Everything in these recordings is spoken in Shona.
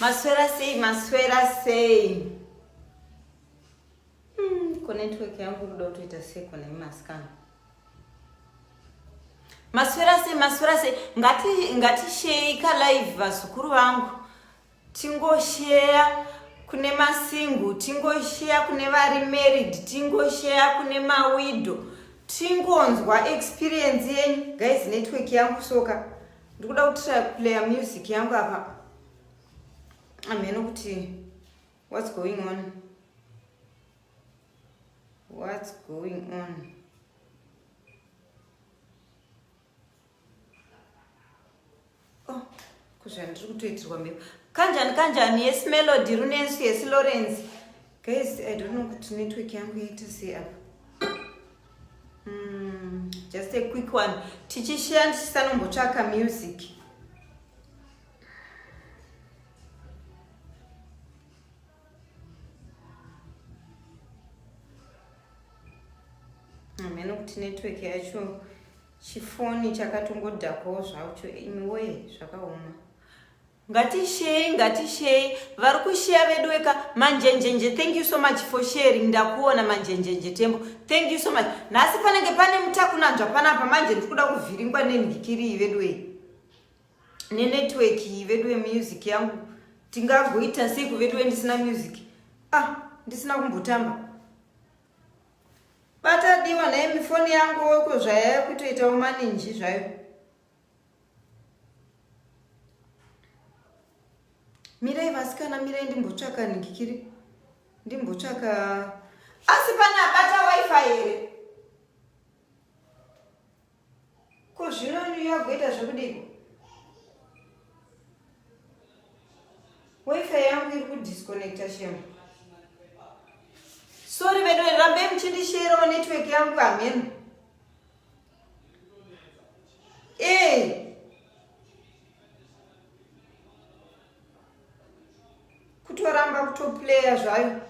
Maswera sei, maswera sei. Hmm, ko network yangu kuda kutoita seko nemi masikana. Maswera sei, maswera sei. Ngati ngati shei ka live vazukuru vangu. tingosheya kune masingle tingosheya kune vari married tingosheya kune mawido tingonzwa experience yenyu guys network yangu soka ndikuda kutira player music yangu apa amheno kuti what's going on what's going on Oh, kuzvandiri kutoitirwa mhepo kanjani kanjani yes melody runensu yes lawrence guys i don't know kuti network yangu yaita sei apa mm, just a quick one tichishiya ndichisanombotsvaka music hameno kuti network yacho chifoni chakatongodhakwawo zvacho imiwee zvakaoma ngatishei ngatishei vari kusheya vedu weka manjenjenje thank you so much for sharing ndakuona manjenjenje tembo thank you so much nhasi panenge pane mutakunanzva panapa manje ndiri kuda kuvhiringwa nenhikiriyi vedu wei nenetwork iyi veduwe music yangu tingagoita sei kuveduwe ndisina music ah ndisina kumbotamba batadiwa naye mifoni yangu weko zvayaya kutoitawo maninji zvayo mirai vasikana mirai ndimbotsvaka ningikiri ndimbotsvaka asi pana bata wifi here Ko zvino New York goita zvekudiko? Wifi yangu iri kudisconnecta shemu. Sorry vedu rambe muchindisherawo network yangu hameno. Eh. Kutoramba kutoplaya zvayo.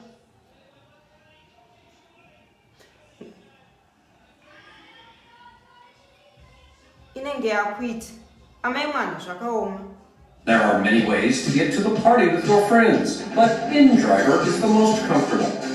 inenge yakuita amai mwana zvakaoma There are many ways to get to the party with your friends, but InDriver is the most comfortable.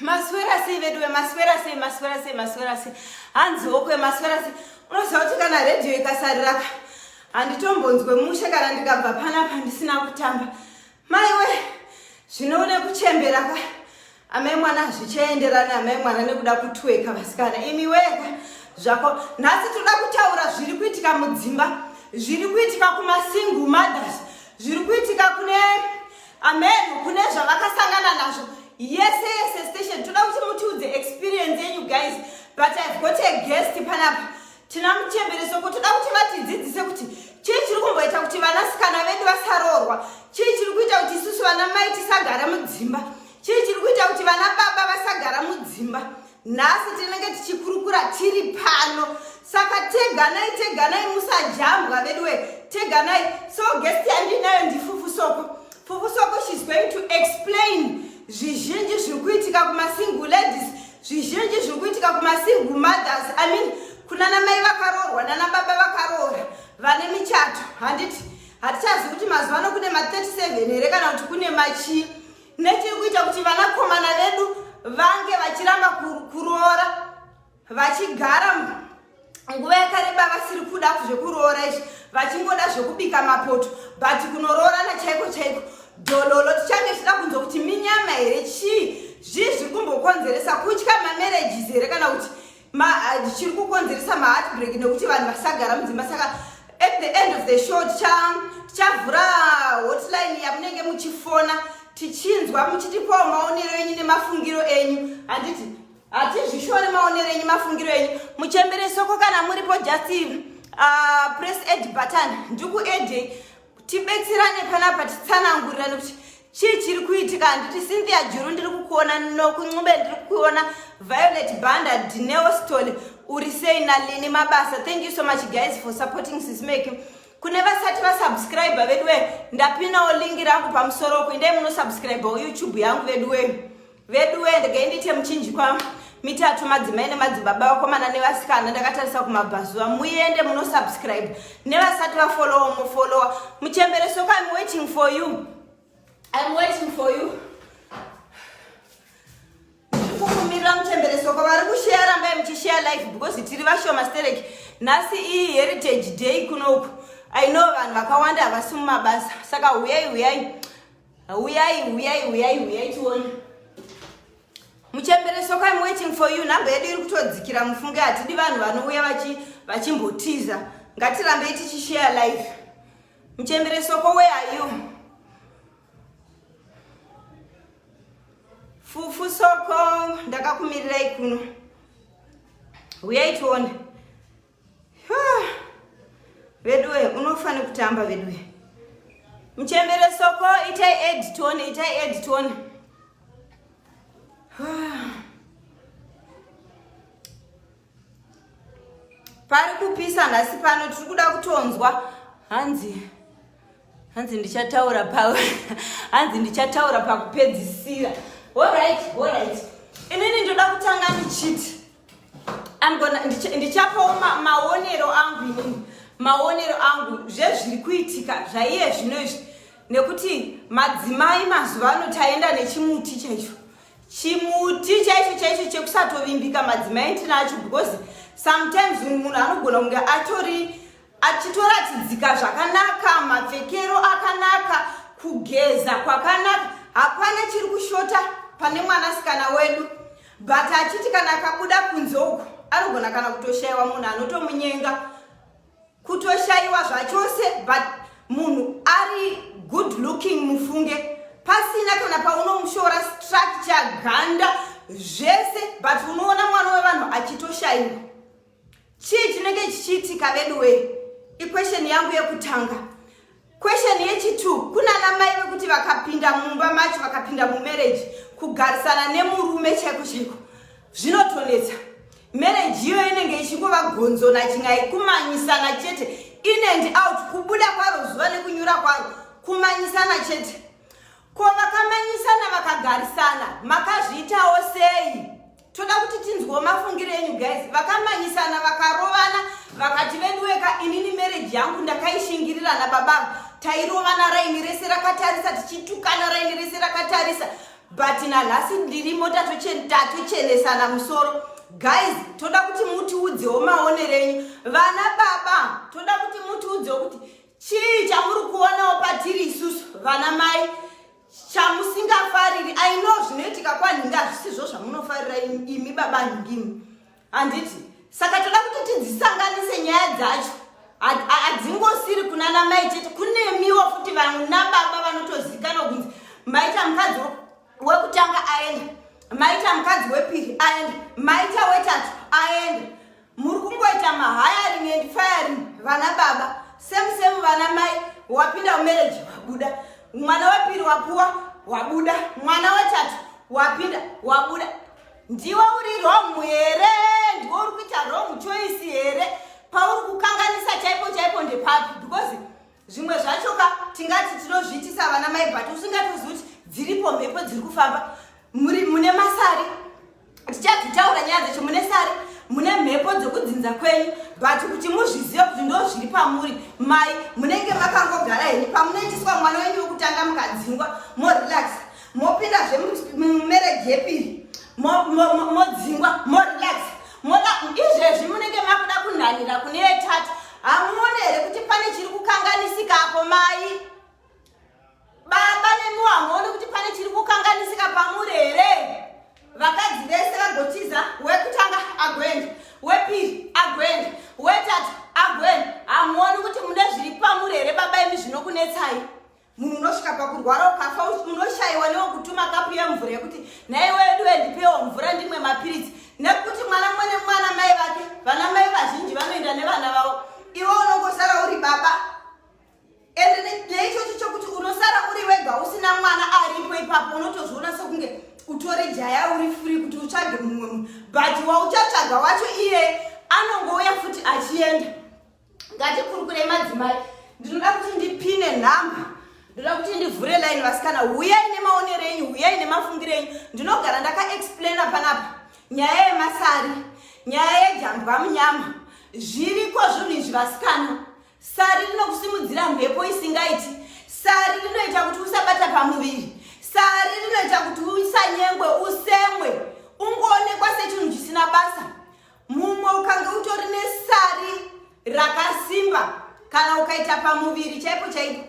maswera sei veduwe maswera sei maswera sei maswera sei hanzi okwe maswera sei unoziva kuti kana redhiyo ikasariraka handitombonzwe mushe kana ndikabva panapa ndisina kutamba maiwe zvinoune kuchembera ka amai mwana hazvichaenderani amai mwana nekuda kutweka vasikana imi weka zvako nhasi tinoda kutaura zviri kuitika mudzimba zviri kuitika kumasingle mothers zviri kuitika kune amen kune zvavakasangana nazvo yese yese station toda kuti mutiudze experience yenyu guys but i've got a guest panapa tina muchembere soko toda kuti vatidzidzise kuti chii chiri kumboita kuti vanasikana vedu vasaroorwa chii chiri kuita kuti isusu vana mai tisagara mudzimba chii chiri kuita kuti vana baba vasagara mudzimba nhasi tinenge tichikurukura tiri pano saka teganai teganai musajambwa veduwe teganai so guest yandinayo ndifufu soko fufu soko she's going to explain zvizhinji zviri kuitika kumasingle ladies zvizhinji zviri kuitika kumasingle mothers i mean kuna namai vakaroorwa nanababa vakaroora vane michato handiti hatichazi kuti mazuva ano kune ma 37 here kana kuti kune machii nechiri kuita kuti vanakomana vedu vange vachiramba kuroora vachigara nguva yakareba vasiri kuda zvekuroora izvi vachingoda zvekubika mapoto but kunoroorana chaiko chaiko dololo tichange tichida kunzwa kuti minyama here chii zvii zviri kumbokonzeresa kutya mamarriages here kana kuti chiri kukonzeresa maheartbreak nekuti vanhu vasagara mudzimba saka at the end of the show tichavhura hotline yamunenge muchifona tichinzwa muchitipawo maonero enyu nemafungiro enyu handiti hatizvishore maonero enyu mafungiro enyu muchembere soko kana muripo just uh, press ed button ndikuedhei tibetserane panapa titsanangurirane kuti chii chiri kuitika handiti cynthia juru ndiri kukuona nokuncube ndiri kukuona violet banda dineostol uri sei nalini mabasa thank you so much guys for supporting sismake kune vasati vasubscribe veduwe ndapinawo lingi rangu pamusoro uku indai munosubscribe youtube yangu veduwe veduwe ndege ndiite muchinjikwa mitatu madzimai nemadzibaba vakomana nevasikana ndakatarisa kumabvazuva muende munosubscribe nevasati vafolowa mofolowa muchembere soko im waiting for you im waiting for you kukumirira muchembere soko vari kusheya rambai muchisheya life because tiri vashoma stereki nhasi iyi heritage day kunoku i know vanhu vakawanda havasi mumabasa saka huyai huyai huyai huyai huyai huyai tione muchembere soko im waiting for you nhamba yedu iri kutodzikira mufunge hatidi vanhu vanouya vachimbotiza ngatirambei tichishare life muchembere soko where are you fufu soko ndakakumirirai kuno huyai tione veduwe unofane kutamba veduwe mchembere soko itai ed tione itai ed tione pari kupisa nhasi pano tiri kuda kutonzwa hanzi hanzi ndichataura pa hanzi ndichataura pakupedzisira horit horit inini ndoda kutanga ndichiti ndichapawo maonero angu inini maonero angu zvezviri kuitika zvaiye zvino izvi nekuti madzimai mazuva ano taenda nechimuti chaicho chimuti chaicho chaicho chekusatovimbika madzimai tinacho because sometimes munhu anogona kunge atori achitoratidzika zvakanaka mapfekero akanaka kugeza kwakanaka hapana chiri kushota pane mwanasikana wedu but achiti kana akabuda kunze uku anogona kana kutoshaiwa munhu anotomunyenga kutoshaiwa zvachose but munhu ari good looking mufunge pasina kana paunomushora structure ganda zvese but unoona mwana wevanhu achitoshaiwa chii chinenge chichiitika veduwee iquestion yangu yekutanga question yechitu kunana mai vekuti vakapinda mumba macho vakapinda mumarriage kugarisana nemurume chaiko chaiko zvinotonetsa marriage iyo inenge ichingova gonzo nachingai kumanyisana chete in and out kubuda kwaro zuva nekunyura kwaro kumanyisana chete ko vakamanyisana vakagarisana makazviitawo sei toda kuti tinzwewo mafungiro enyu guys vakamanyisana vakarovana vakati veduweka inini mereji yangu ndakaishingirira nababavo tairovana raini rese rakatarisa tichitukana raini rese rakatarisa but nanhasi ndirimo tatochenetana musoro guys toda kuti mutiudzewo maonero enyu vana baba toda kuti mutiudzewo kuti chii chamuri kuonawo patiri isusu vana mai chamusingafariri i know zvinoitika kwanhingi hazvisizvo zvamunofarira imi baba nhingimi handiti saka toda kuti tidzisanganise nyaya dzacho hadzingosiri kuna na mai chete kunemiwo futi vanhu nababa vanotozikana kunzi maita mukadzi wekutanga aenda maita mukadzi wepiri aenda maita wetatu aenda Muri kungoita mahiring and firing vana baba same same vana mai wapinda mumarriage wabuda mwana wepiri wapuwa wabuda mwana wetatu wapinda wabuda ndiwe uri wrong here ndiwe uri kuita wrong choice here pauri kukanganisa chaipo chaipo ndepapi because zvimwe zvacho ka tingati tinozviitisa vana mai but usingatozi kuti dziripo mhepo dziri kufamba muri mune masari tichadzitaura nyaya dzacho mune sari mune mhepo dzekudzinza kwenyu but kuti muzvizive kuti ndo zviri pamuri mai munenge makangogara here pamunoitiswa mwana wenyu wekutanga mukadzingwa morelaxa mopinda zve mumereji yepiri modzingwa morelax moda izvezvi munenge makuda kunhanira kune yetatu hamuone here kuti pane chiri kukanganisika apo mai baba nemiwo hamuoni kuti pane chiri kukanganisika pamuri here vakadzi vese vagotiza wekutanga agoenda wepiri agoenda wetatu agoenda hamuoni kuti mune zviri pamuri here baba imi zvinokunetsai munhu unosvika pakurwara ukafa unoshaiwa newokutuma kapu yemvura yekuti nhai wedu wendipewo mvura ndimwe mapiritsi nekuti mwana mumwe nemwana mai vake vana mai vazhinji vanoenda nevana vavo iwe unongosara uri baba ende neichocho chokuti unosara uri wega usina mwana aripo ipapo unotozviona sokunge utore jaya uri furi kuti utsvage mumwe munhu but wauchatsvaga wacho iye anongouya futi achienda ngatikurukure madzimai ndinoda kuti ndipine nhamba ndoda kuti ndivhure line vasikana huyai nemaonero enyu huyai nemafungiro enyu ndinogara ndakaexplaina panapa nyaya yemasari nyaya yejambwa munyama zviriko zvinhu izvi vasikana sari rinokusimudzira mhepo isingaiti sari rinoita kuti usabata pamuviri sari rinoita kuti usanyengwe usemwe ungoonekwa sechinhu chisina basa mumwe ukange utori nesari rakasimba kana ukaita pamuviri chaipo chaipo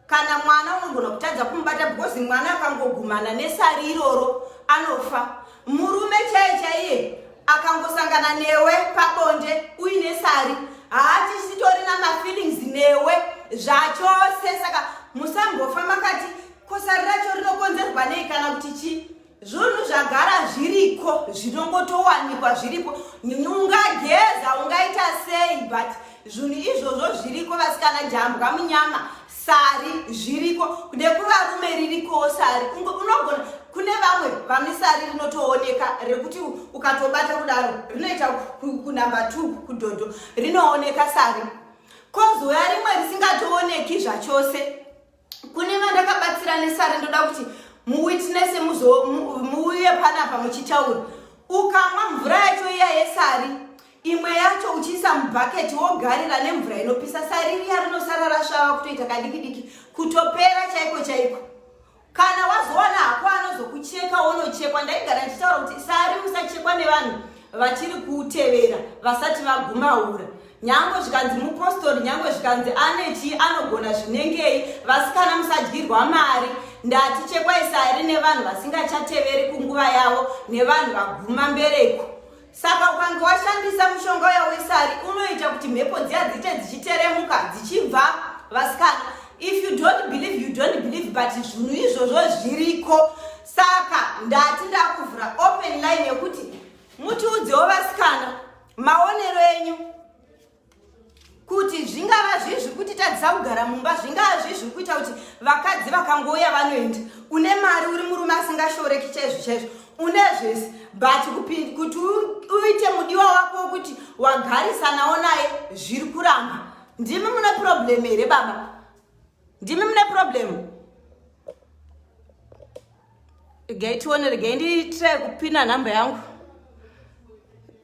kana mwana unogona kutadza kumubata because mwana akangogumana nesari iroro anofa murume chaiye chaiye akangosangana newe pabonde uine sari haachisitorina mafeelings newe zvachose saka musambofa makati kosari racho rinokonzerwa nei kana kuti chii zvunhu zvagara zviriko zvinongotowanikwa zviripo ungageza ungaita sei but zvunhu izvozvo zviriko vasikana jambwa munyama sari zviriko kude kuvarume ririkowo sari unogona kune vamwe vane sari rinotooneka rekuti ukatobata kudaro rinoita kunamba t kudhodho rinooneka sari kozoya rimwe risingatooneki zvachose kune vandakabatsira nesari ndoda kuti muwitnese muuye panapa muchitaura ukamwa mvura yacho iya yesari imwe yacho uchiisa mubhaketi wogarira nemvura inopisa sari riya rinosara rasvava kutoita kadiki diki kutopera chaiko chaiko kana wazowana hako anozokucheka wonochekwa ndaigara ndichitaura kuti sari musachekwa nevanhu vachiri kutevera vasati vagumaura Nyangwe zvikanzi mupostori, nyangwe zvikanzi ane chii anogona zvinengei, vasikana musadyirwa mari. Ndati chekwai sari nevanhu vasingachateveri kunguva yavo nevanhu vaguma mbereko. Saka ukange washandisa mushonga uya wesari unoita kuti mhepo dziya dziite dzichiteremuka dzichibva vasikana. If you don't believe, you don't believe but zvinhu izvozvo zviriko. Saka ndati ndakuvhura open line yekuti mutiudzewo vasikana maonero enyu kuti zvingava zvii zviri kuti tadzisa kugara mumba zvingava zvii zviri kuita kuti vakadzi vakangouya vanoenda une mari uri murume asingashoreki chaizvo chaizvo une zvese but kuti uite mudiwa wako wokuti wagarisanawo naye zviri kuramba ndimi mune problem here baba ndimi mune problemu regai tione regai ndiitire kupina nhamba yangu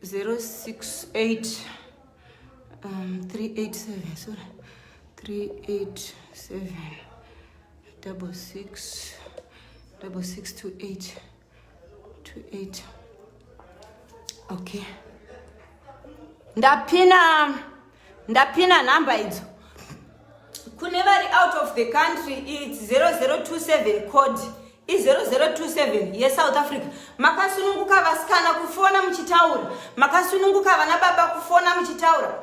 068 um, 387 sorry 387 double six double six two eight two eight okay ndapina ndapina nhamba idzo kune vari out of the country its 0027 code i0027 yesouth africa makasununguka vasikana kufona muchitaura makasununguka vana baba kufona muchitaura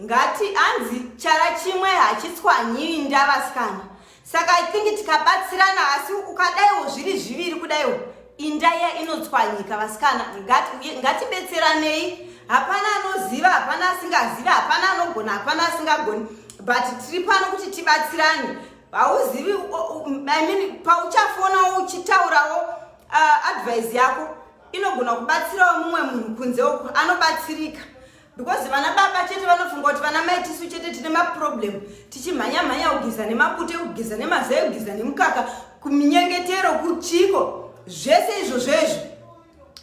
ngati anzi chara chimwe hachitswanyiwi ndavasikana saka i think tikabatsirana asi ukadaiwo zviri zviviri kudaiwo indaiya inotswanyika vasikana ngatibetseranei hapana anoziva hapana asingazivi hapana anogona hapana asingagoni but tiri pano kuti tibatsirane hauzivi i mean pauchafonawo uchitaurawo uh, advise yako inogona kubatsirawo mumwe munhu kunze uku anobatsirika because vana baba chete vanofunga kuti vana mai tisu chete tine maproblem tichimhanya mhanya kugeza nemapute kugeza nemazai kugeza nemukaka kuminyengetero kuchiko zvese izvo zvezvo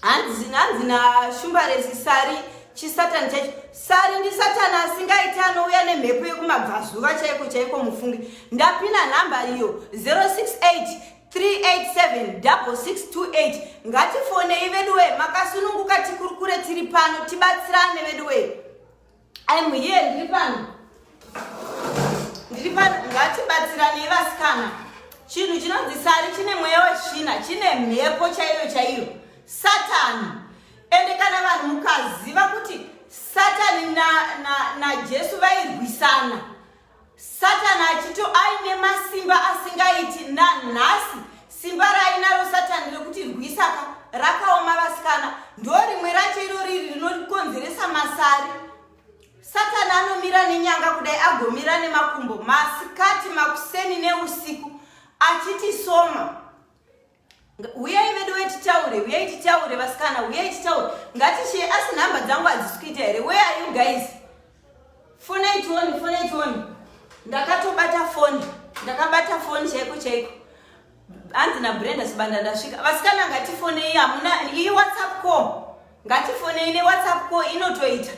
hanzi hanzi nashumbaresi sari chisatani chacho sari ndi satani asingaiti anouya nemhepo yekumabvazuva chaiko chaiko mufunge ndapina nhamba iyo 068 3876628 ngatifonei veduwe makasununguka tikurukure tiri pano tibatsirane veduwe im here ndiri pano ndiri pano ngatibatsiranei vasikana chinhu chinonzi sari chine mweya wechina chine mhepo chaiyo chaiyo satani ende kana vanhu mukaziva kuti satani najesu na, na vairwisana Satani achito aine masimba asingaiti nanhasi simba rainaro satani rekuti rwisaka rakaoma vasikana ndo rimwe racho iro riri rinokonzeresa masari satani anomira nenyanga kudai agomira nemakumbo masikati makuseni neusiku achiti soma huyai vedu we titaure huyai titaure vasikana huyai titaure ngatishe asi nhamba dzangu hadzisi kuita here where are you guys fonai tioni fonai tioni ndakatobata foni ndakabata foni chaiko chaiko hanzi nabrenda sibanda ndasvika vasikana ngatifonei hamuna iyi whatsapp call ngatifonei newhatsapp call inotoita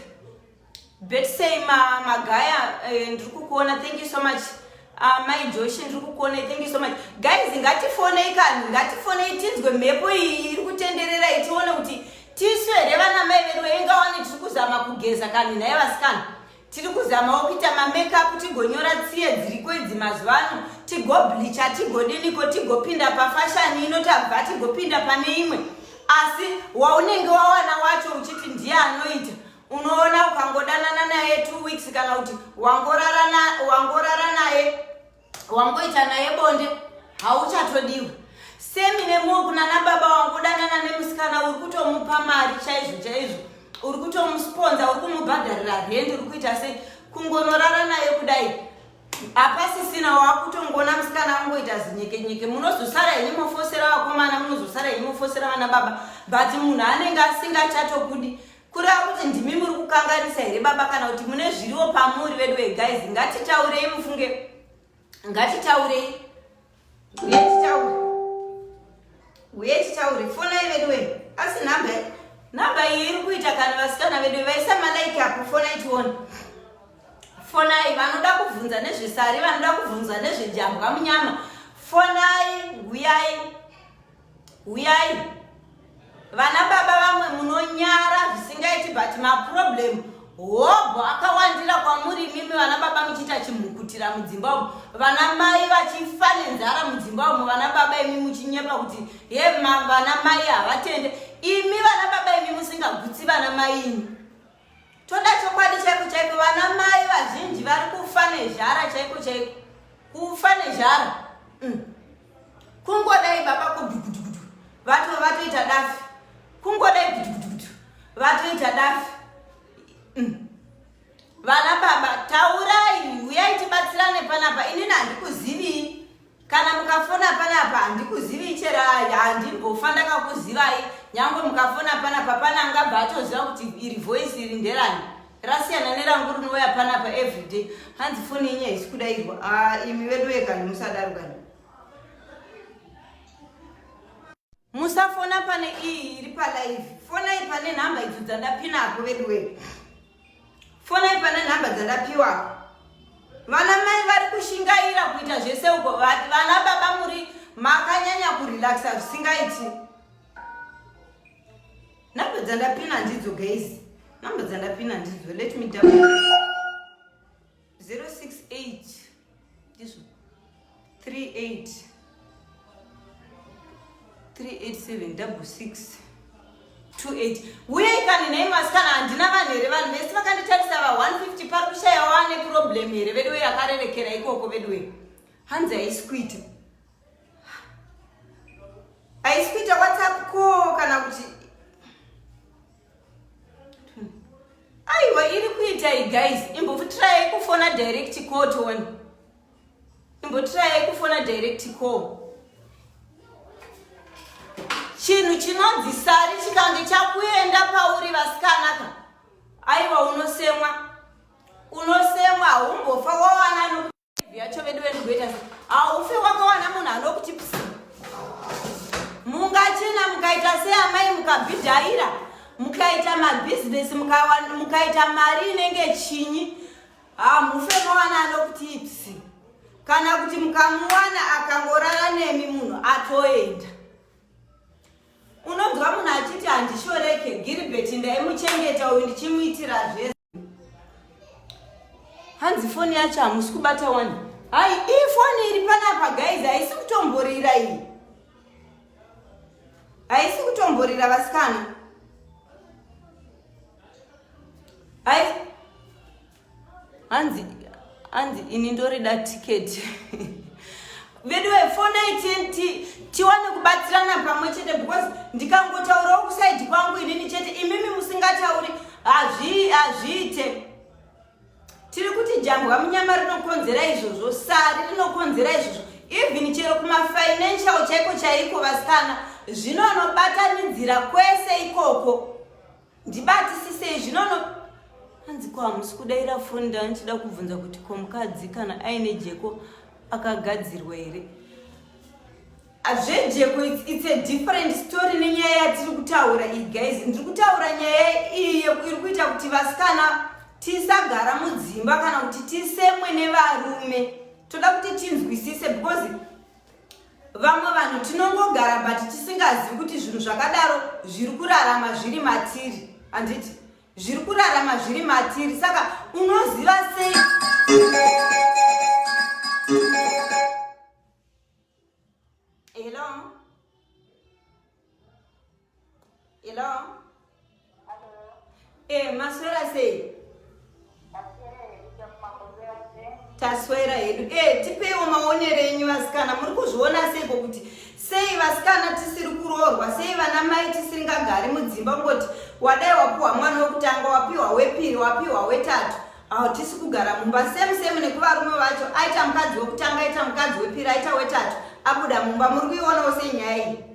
Betsey ma magaya eh, ndiri kukuona thank you so much uh, mai joshi ndiri kukuona thank you so much guys ngatifonei kani ngatifonei tinzwe mhepo iyi iri kutenderera itione kuti tisu here vana mai vedu vevingawani tiri kuzama kugeza kani naye vasikana tiri kuzamawo kuita mamekup tigonyora tsiye dziriko idzi mazuva ano tigoblicha tigodiniko tigopinda pafashani ino tabva tigopinda pane imwe asi waunenge wawana wacho uchiti ndiye anoita unoona ukangodanana naye two weeks kana kuti wangorara naye wangoita naye bonde hauchatodiwa semi nemuo kunana baba wangodanana nemusikana uri kutomupa mari chaizvo chaizvo uri kutomusponza uri kumubhadharira rendi uri kuita sei kungonorara naye kudai hapasisina wakutongoona musikana wangoita zinyekenyeke munozosara ini mofosera vakomana munozosara ini mofosera vana baba but munhu anenge asingachato kudi kureva kuti ndimi muri kukanganisa here baba kana kuti mune zviriwo pamuri vedu veguys ngatitaurei mufunge ngatitaurei uye titaure uye titaure fonai vedu we asi nhamba nhamba iyi iri kuita kana vasikana vedu vaisa malaiki apo fonai tione fonai vanoda kubvunza nezvesari vanoda kubvunza nezvejambwa munyama fonai huyai huyai vana baba vamwe munonyara zvisingaiti but maproblem hobho akawandira kwamuri imimi vana baba muchiita chimhukutira mudzimba umu vana mai vachifa nenzara mudzimba umu vana baba imi muchinyepa kuti ye vana mai havatende imi vana baba imi musingagutsi vana mai imi Toda chokwadi chaiko chaiko vana mai vazhinji vari kufa nezhara chaiko chaiko. Kufa nezhara. Mm. Kungodai baba kudukudukudu. Vatu vatoita dafi. Kungodai kudukudukudu. Vatoita dafi. Mm. Vana baba taurai uyai tibatsirane panapa inini handikuzivi kana mukafona panapa handikuzivi cherai handimbofa ndakakuzivai nyangwe mukafona panapa pana angabva atoziva kuti iri voice iri nderani rasiyana nerangu rinouya panapa everyday hanzi foni yenyu haisi kudairwa ah, imi vedu vekani musadaro kani musafona pane iyi iri palive fonai pane nhamba idzo dzandapinako vedu wee fonai pane nhamba dzandapiwa vana mai vari kushingaira kuita zvese uko vati vana baba muri makanyanya kurelaxa zvisingaiti nhamba dzandapina ndidzo gays nhamba dzandapina ndidzo let me down 068 ndizvo 38 387 28 uyei kani nei masikana handina vanhu here vanhu vese vakanditarisa va 150 pari kushaya wane problem here veduwe akarerekera ikoko veduwe hanzi haisi kuita haisi kuita whatsapp ko kana kuti aiwa iri kuitai guys imbotirai kufona direct call tione imbotirai kufona direct call chinhu chinonzi sari chikange chakuenda pauri vasikanaka aiwa unosemwa unosemwa haumbofa wawana yacho vedu venogoita haufe wakawana munhu anokuti psi mungachena mukaita seamai mukabhidhaira mukaita mabhizinesi mukaita mari inenge chinyi hamufe mawana anokuti psi kana kuti mukamuwana akangorara nemi munhu atoenda unonzwa munhu achiti handishoreke giribeti ndaimuchengeta uyu ndichimuitira zvese hanzi foni yacho hamusi kubata wani hai ii foni iri panapa guys haisi kutomborira iyi haisi kutomborira vasikana hanzi Anzi ini ndorida ticket. Veduwe fonai tiwane kubatsirana pamwe chete because ndikangotaurawo kusaidi kwangu inini chete imimi musingatauri hazviite. Tiri kuti jambwa munyama rinokonzera izvozvo, sari rinokonzera izvozvo. Even chero kumafinancial chaiko chaiko vasikana zvinonobatanidzira kwese ikoko. ndibatisisei zvinono hanzi ko hamusi kudaira foni ndanga ndichida kubvunza kuti ko mukadzi kana aine jeko akagadzirwa here hazvejeko its a different story nenyaya yatiri kutaura iyi guys ndiri kutaura nyaya iyi iri kuita kuti vasikana tisagara mudzimba kana kuti tisemwe nevarume toda kuti tinzwisise because vamwe vanhu tinongogara but tisingazivi kuti zvinhu zvakadaro zviri kurarama zviri matiri handiti zviri kurarama zviri matiri saka unoziva sei Hello. Hello. Eh, maswera sei? taswera hedu e tipeiwo maonero enyu vasikana muri kuzviona seiko kuti sei vasikana tisiri kuroorwa sei vana mai tisingagari mudzimba kungoti wadai wapiwa mwana wekutanga wapiwa wepiri wapiwa wetatu hautisi kugara mumba same same nekuvarume vacho aita mukadzi wekutanga aita mukadzi wepiri aita wetatu abuda mumba muri kuionawo sei nyaya iyi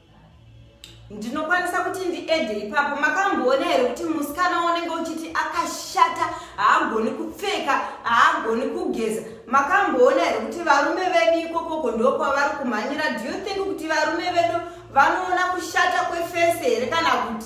ndinokwanisa kuti ndiede ipapo makamboona here kuti musikana unenge uchiti akashata haagoni kupfeka haagoni kugeza makamboona here kuti varume vedu ikokoko ndo kwavari kumhanyira do you think kuti varume vedu vanoona kushata kwefese here kana kuti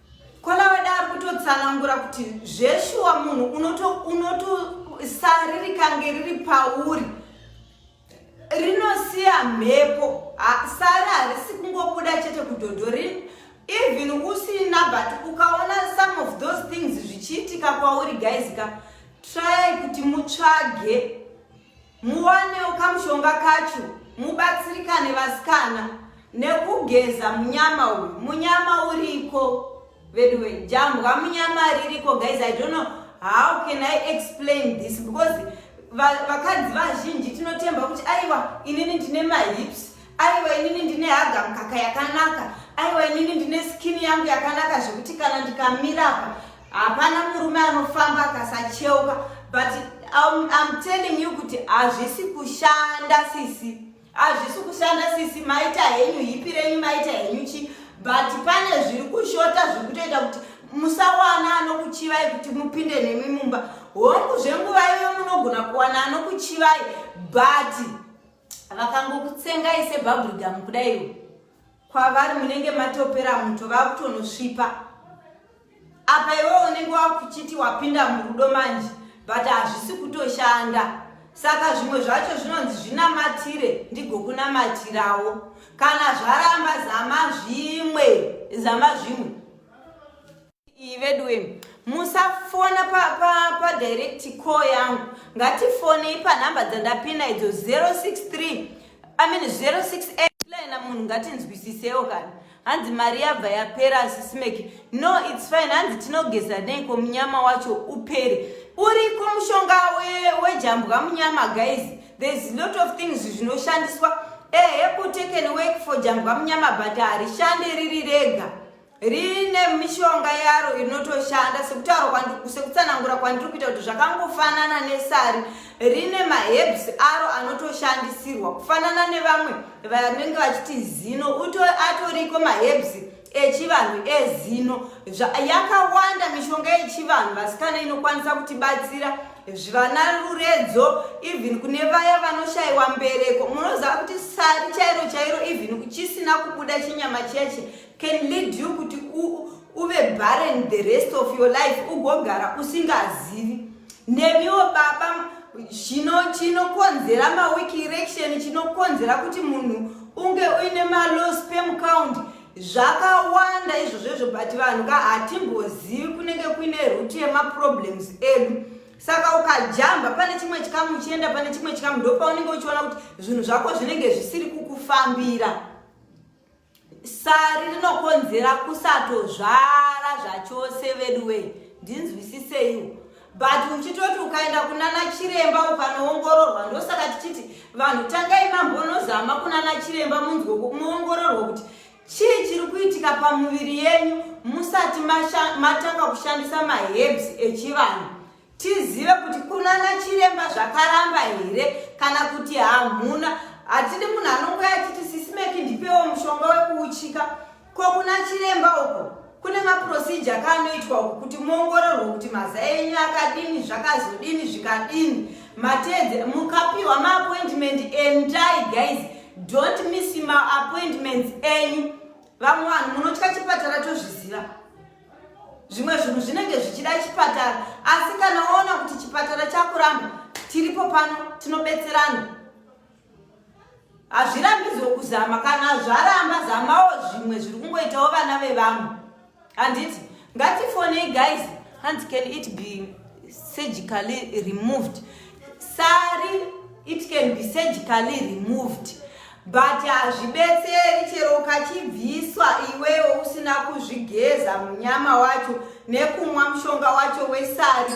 kwalavadaro kutotsanangura kuti zveshuwa munhu unotosaririka kange riri pauri rinosiya mhepo sari harisi kungobuda chete kudhodhorini even usina but ukaona some of those things zvichiitika kwauri guys ka try kuti mutsvage Muwanewo kamushonga kacho mubatsirikane vasikana nekugeza munyama uyu. Munyama uriko veduwe, jambwa munyama ririko guys. I don't know how can I explain this because vakadzi vazhinji tinotemba kuti aiwa inini ndine mahips, aiwa inini ndine haga mukaka yakanaka, aiwa inini ndine skin yangu yakanaka zvekuti kana ndikamira apa hapana murume anofamba akasacheuka but I'm, I'm telling you kuti hazvisi kushanda sisi hazvisi kushanda sisi maita henyu hipi renyu maita henyu chi but pane zviri kushota zviri kutoita kuti musawana anokuchivai kuti mupinde nemi mumba hongu zvenguva iyoyo munogona kuwana anokuchivai but vakangokutsengai sebhabhurigamu kudaiwo kwavari munenge matopera muto vakutonosvipa apa iwe unenge wakuchiti wapinda murudo manje but hazvisi kutoshanda saka zvimwe zvacho zvinonzi zvinamatire ndigokunamatirawo kana zvaramba zama zvimwe zama zvimwe iyi veduwe musafona padirect pa, pa call yangu ngatifonei panhamba dzandapina idzo 063 i mean 068 laina munhu ngatinzwisisewo kana hanzi mari yabva yapera asisimeki no its fine hanzi tinogeza neiko munyama wacho upere uriko mushonga wejambwa we munyama guys thereis lot of things zvinoshandiswa ehe kuteken work for jambwa munyama but harishande riri rega rine mishonga yaro inotoshanda sekutaura sekutsanangura kwandiri kuita kuti zvakangofanana nesari rine maherbs aro anotoshandisirwa kufanana nevamwe vanenge vachiti zino atoriko maherbs echivanhu ezino yakawanda mishonga yechivanhu vasikana inokwanisa kutibatsira zvivana ruredzo even kune vaya vanoshayiwa mbereko munoziva kuti sari chairo chairo even chisina kubuda chinyama cheche can lead you kuti uve barren the rest of your life ugogara usingazivi nemiwo baba chino chinokonzera maweek erection chinokonzera kuti munhu unge uine malow spam count zvakawanda izvozvo izvo but vanhu ka hatimbozivi kunenge kuine root yemaproblems edu saka ukajamba pane chimwe chikamu uchienda pane chimwe chikamu ndopaunenge uchiona kuti zvinhu zvako zvinenge zvisiri kukufambira Sari rinokonzera kusatozvara zvachose veduwe ndinzwisiseiwo but uchitoti ukaenda kunana chiremba ukanoongororwa ndosaka tichiti vanhu tangai mambonozama kunana chiremba munzwe muongororwa kuti chii chiri kuitika pamuviri yenyu musati matanga kushandisa mahebs echivanhu tizive kuti kunana chiremba zvakaramba here kana kuti hamuna hatidi munhu anongoya achiti sisimeki ndipewo mushonga wekuuchika ko kuna chiremba uko kune maprocedure kaanoitwa uku kuti muongororwe kuti mazai enyu akadini zvakazodini zvikadini matedze mukapiwa maappointment endai guys don't miss maappointments enyu vamwe vanhu munotya chipatara tozviziva zvimwe zvinhu zvinenge zvichida chipatara asi kana waona kuti chipatara chakuramba tiripo pano tinobetserana hazvirambidzwe kuzama kana zvaramba zamawo zvimwe zviri kungoitawo vana vevamwe handiti ngatifonei guys hanzi can it be surgically removed sari it can be surgically removed But hazvibetseri chero ukachibviswa iwewo usina kuzvigeza munyama wacho nekumwa mushonga wacho wesari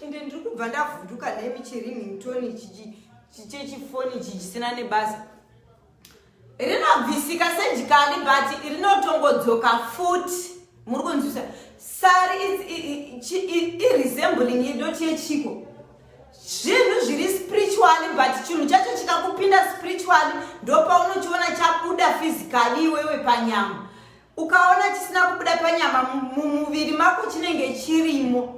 ende ndiri kubva ndavhunduka nemi chirinhingtoni chechifoni chichisina nebasa rinobvisika surgically but rinotongodzoka futi muri kunzwisa sari iresembling idoti yechiko zvinhu zviri spiritually but chinhu chacho chikakupinda spiritually ndopaunochiona chabuda physically iwewe panyama ukaona chisina kubuda panyama mumuviri mako chinenge chirimo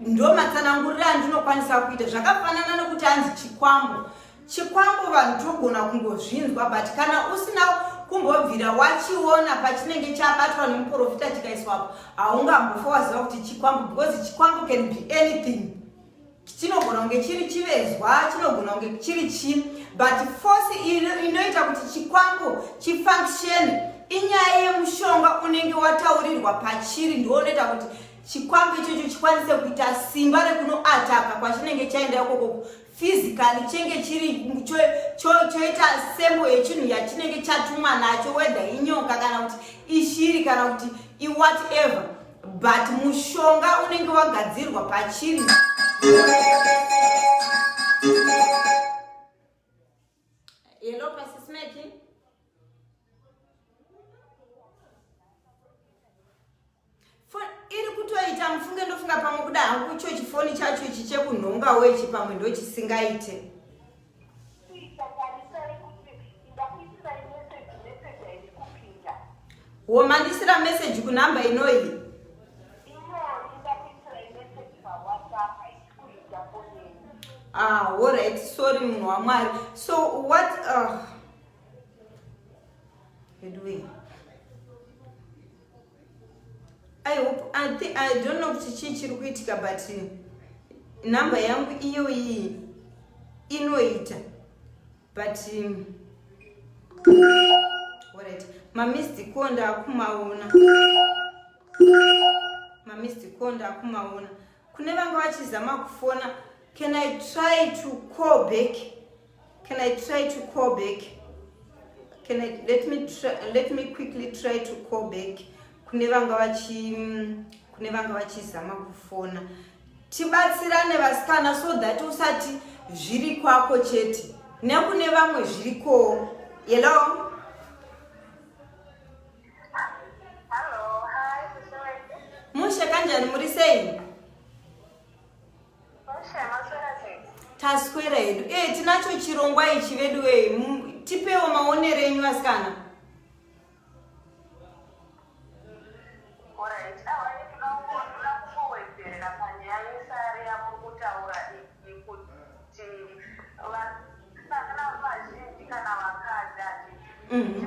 ndo matsananguriro andinokwanisa kuita zvakafanana nekuti hanzi chikwambo chikwambo vanhu togona kungozvinzwa but kana usina kumbobvira wachiona pachinenge chabatwa nemuprofita chikaiswapo haungambofa waziva kuti chikwambo because chikwambo can be anything chinogona kunge chiri chivezwa chinogona kunge chiri chi but force inoita kuti chikwambo chifunction inyaya yemushonga unenge wataurirwa pachiri ndiwo unoita kuti chikwambo ichocho chikwanise kuita simba rekunoataka kwachinenge chaenda ikoko physically chenge chiri choita sembo yechinhu yachinenge chatumwa nacho wedha inyoka kana kuti ishiri kana kuti iwhatever but mushonga unenge wagadzirwa pachiri hello pasismeki iri kutoita mufunge ndofunga pamwe kuda hangu icho chifoni chacho ichi chekunhongawo ichi pamwe ndochisingaite womanisira message kunhamba inoyi ah alright sorry munhu wamwari so what uh, I hope, I, think, I don't know kuti chii chiri kuitika but number yangu iyo iyi inoita but um, right. mamistic ko ndaakumaona mamistic ko ndaakumaona kune vanga vachizama kufona can i try to call back Can I try to call back? Can I, let me try, let me quickly try to call back kune vanga vachi kune vanga vachizama kufona tibatsirane vasikana so that usati zviri kwako chete nekune vamwe zvirikowo yeloo taswera hedu e eh, tinacho chirongwa ichi vedu e tipewo maonero enyu vasikana Mm-hmm.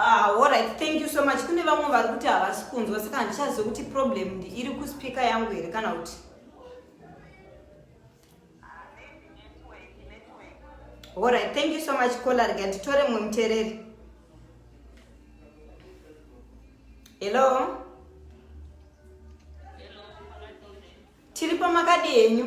Ah, alright thank you so much kune vamwe vari kuti havasi kunzwa saka handichazive kuti problem ndi iri kuspika yangu here kana kuti alright thank you so much kola rega nditore mumwe mutereri hello tiri pamakadi henyu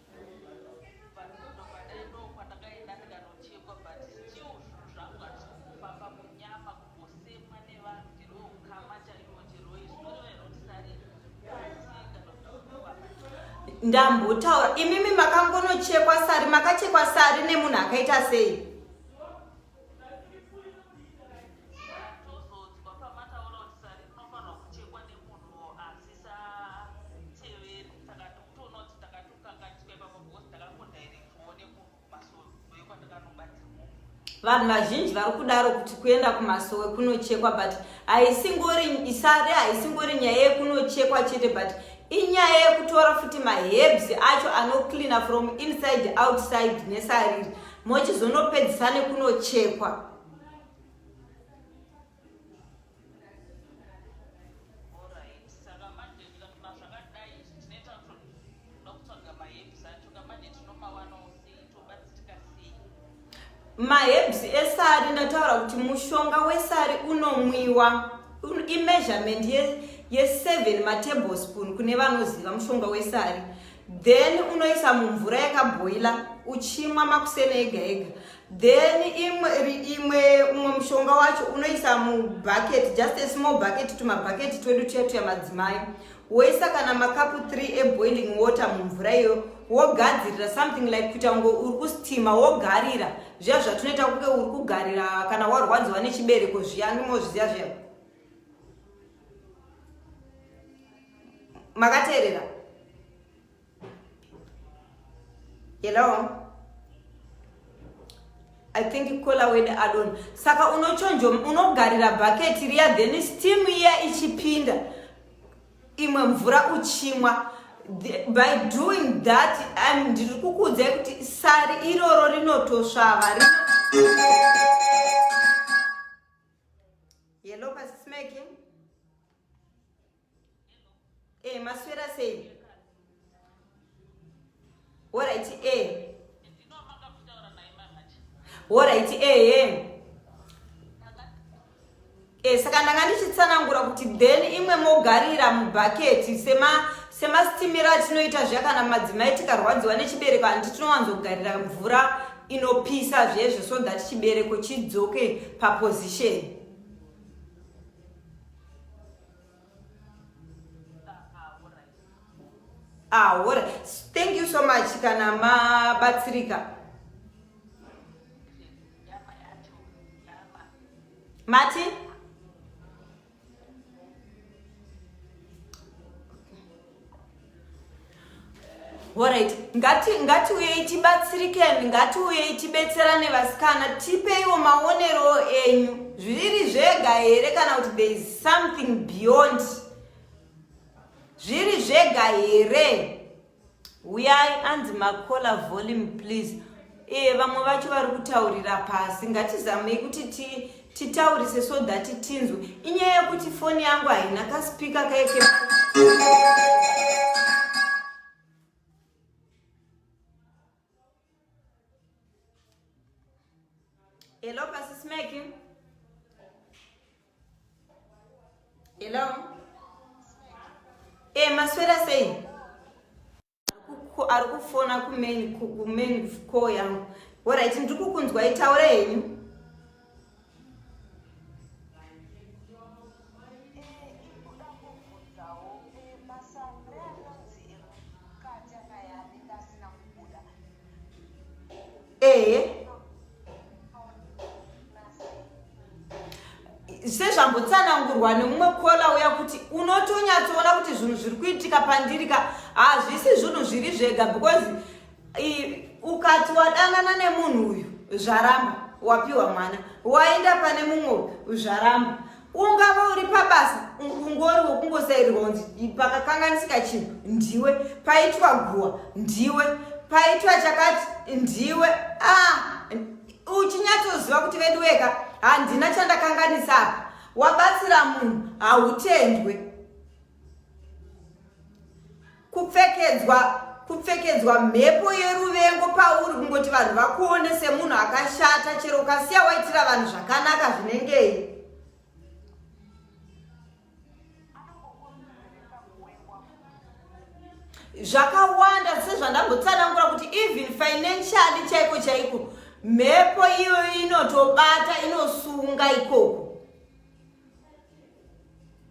ndambotaura imimi makangonochekwa sari makachekwa sari nemunhu akaita sei Tonoti takatokanganiswa ipapo because ndakangodirectivo nekumasowe kwandakanobatira mhomho. vanhu vazhinji vari kudaro kuti kuenda kumasowe kunochekwa but haisingori isare haisingori nyaya yekunochekwa chete but inyaya yekutora futi mahebs acho anocleana from inside outside nesariri mochizonopedzisa nekunochekwa maherbs esari ndataura kuti mushonga wesari unomwiwa imeasurement ye7 ye matable spoon kune vanoziva mushonga wesari then unoisa mumvura yakabhoila uchimwa makuseni ega ega then imwe imwe umwe mushonga wacho unoisa mubucket just a small bucket tumabucket twedu tuya tuya madzimai woisa kana makapu 3 eboiling water mumvura iyo wogadzirira something like kuita kunge uri kustima wogarira zviya zvatunoita kunge uri kugarira kana warwadziwa nechibereko zviya ndimozviziya zviya makateerera Hello. I think kola wede adon. Saka unochonjo unogarira bucket riya then steam iya ichipinda. Imwe mvura uchimwa. By doing that I'm ndiri kukuudzai kuti sari iroro rinotosvava rino Hello, Pastor Smacking. Eh, maswera sei? Alright, eh. Alright, eh, eh. Eh, saka ndanga ndichitsanangura kuti then imwe mogarira mubhaketi sema semastimira atinoita zviya kana madzimai tikarwadziwa nechibereko handi tinowanzogarira mvura inopisa zvezvo so that chibereko chidzoke paposition ah, all right. thank you so much kana mabatsirika mati Alright, ngati ngatiuyei tibatsirikeni, ngatiuyei tibetserane vasikana, tipeiwo maonero enyu zviri zvega here kana kuti there is something beyond zviri zvega here uyai anzi makola volume please Eh, vamwe vacho vari kutaurira pasi ngatizamei kuti ti titaurise so that tinzwe inyaya yekuti foni yangu haina kaspika kaeke hello pasismeki hello e eh, maswera sei ari kufona kumain kumain call yangu orit ndiri kukunzwai taura henyu ehe sezvambotsanangurwa nemumwe kola uya kuti unotonyatsoona kuti zvinhu zviri kuitika pandiri ka hazvisi zvinhu zviri zvega because ukati wadanana nemunhu uyu zvaramba wapiwa mwana waenda pane mumwe zvaramba ungava uri pabasa ungori wokungosairirwa kunzi pakakanganisika chinhu ndiwe paitwa guwa ndiwe paitwa chakati ndiwe ah, uchinyatsoziva kuti vedu weka handina chandakanganisa apa wabatsira munhu hautendwe kupfekedzwa kupfekedzwa mhepo yeruvengo pauri kungoti vanhu vakuone semunhu akashata chero ukasiya waitira vanhu zvakanaka zvinengei zvakawanda sezvandambotsanangura kuti even financially chaiko chaiko mhepo iyoyo inotobata inosunga ikoko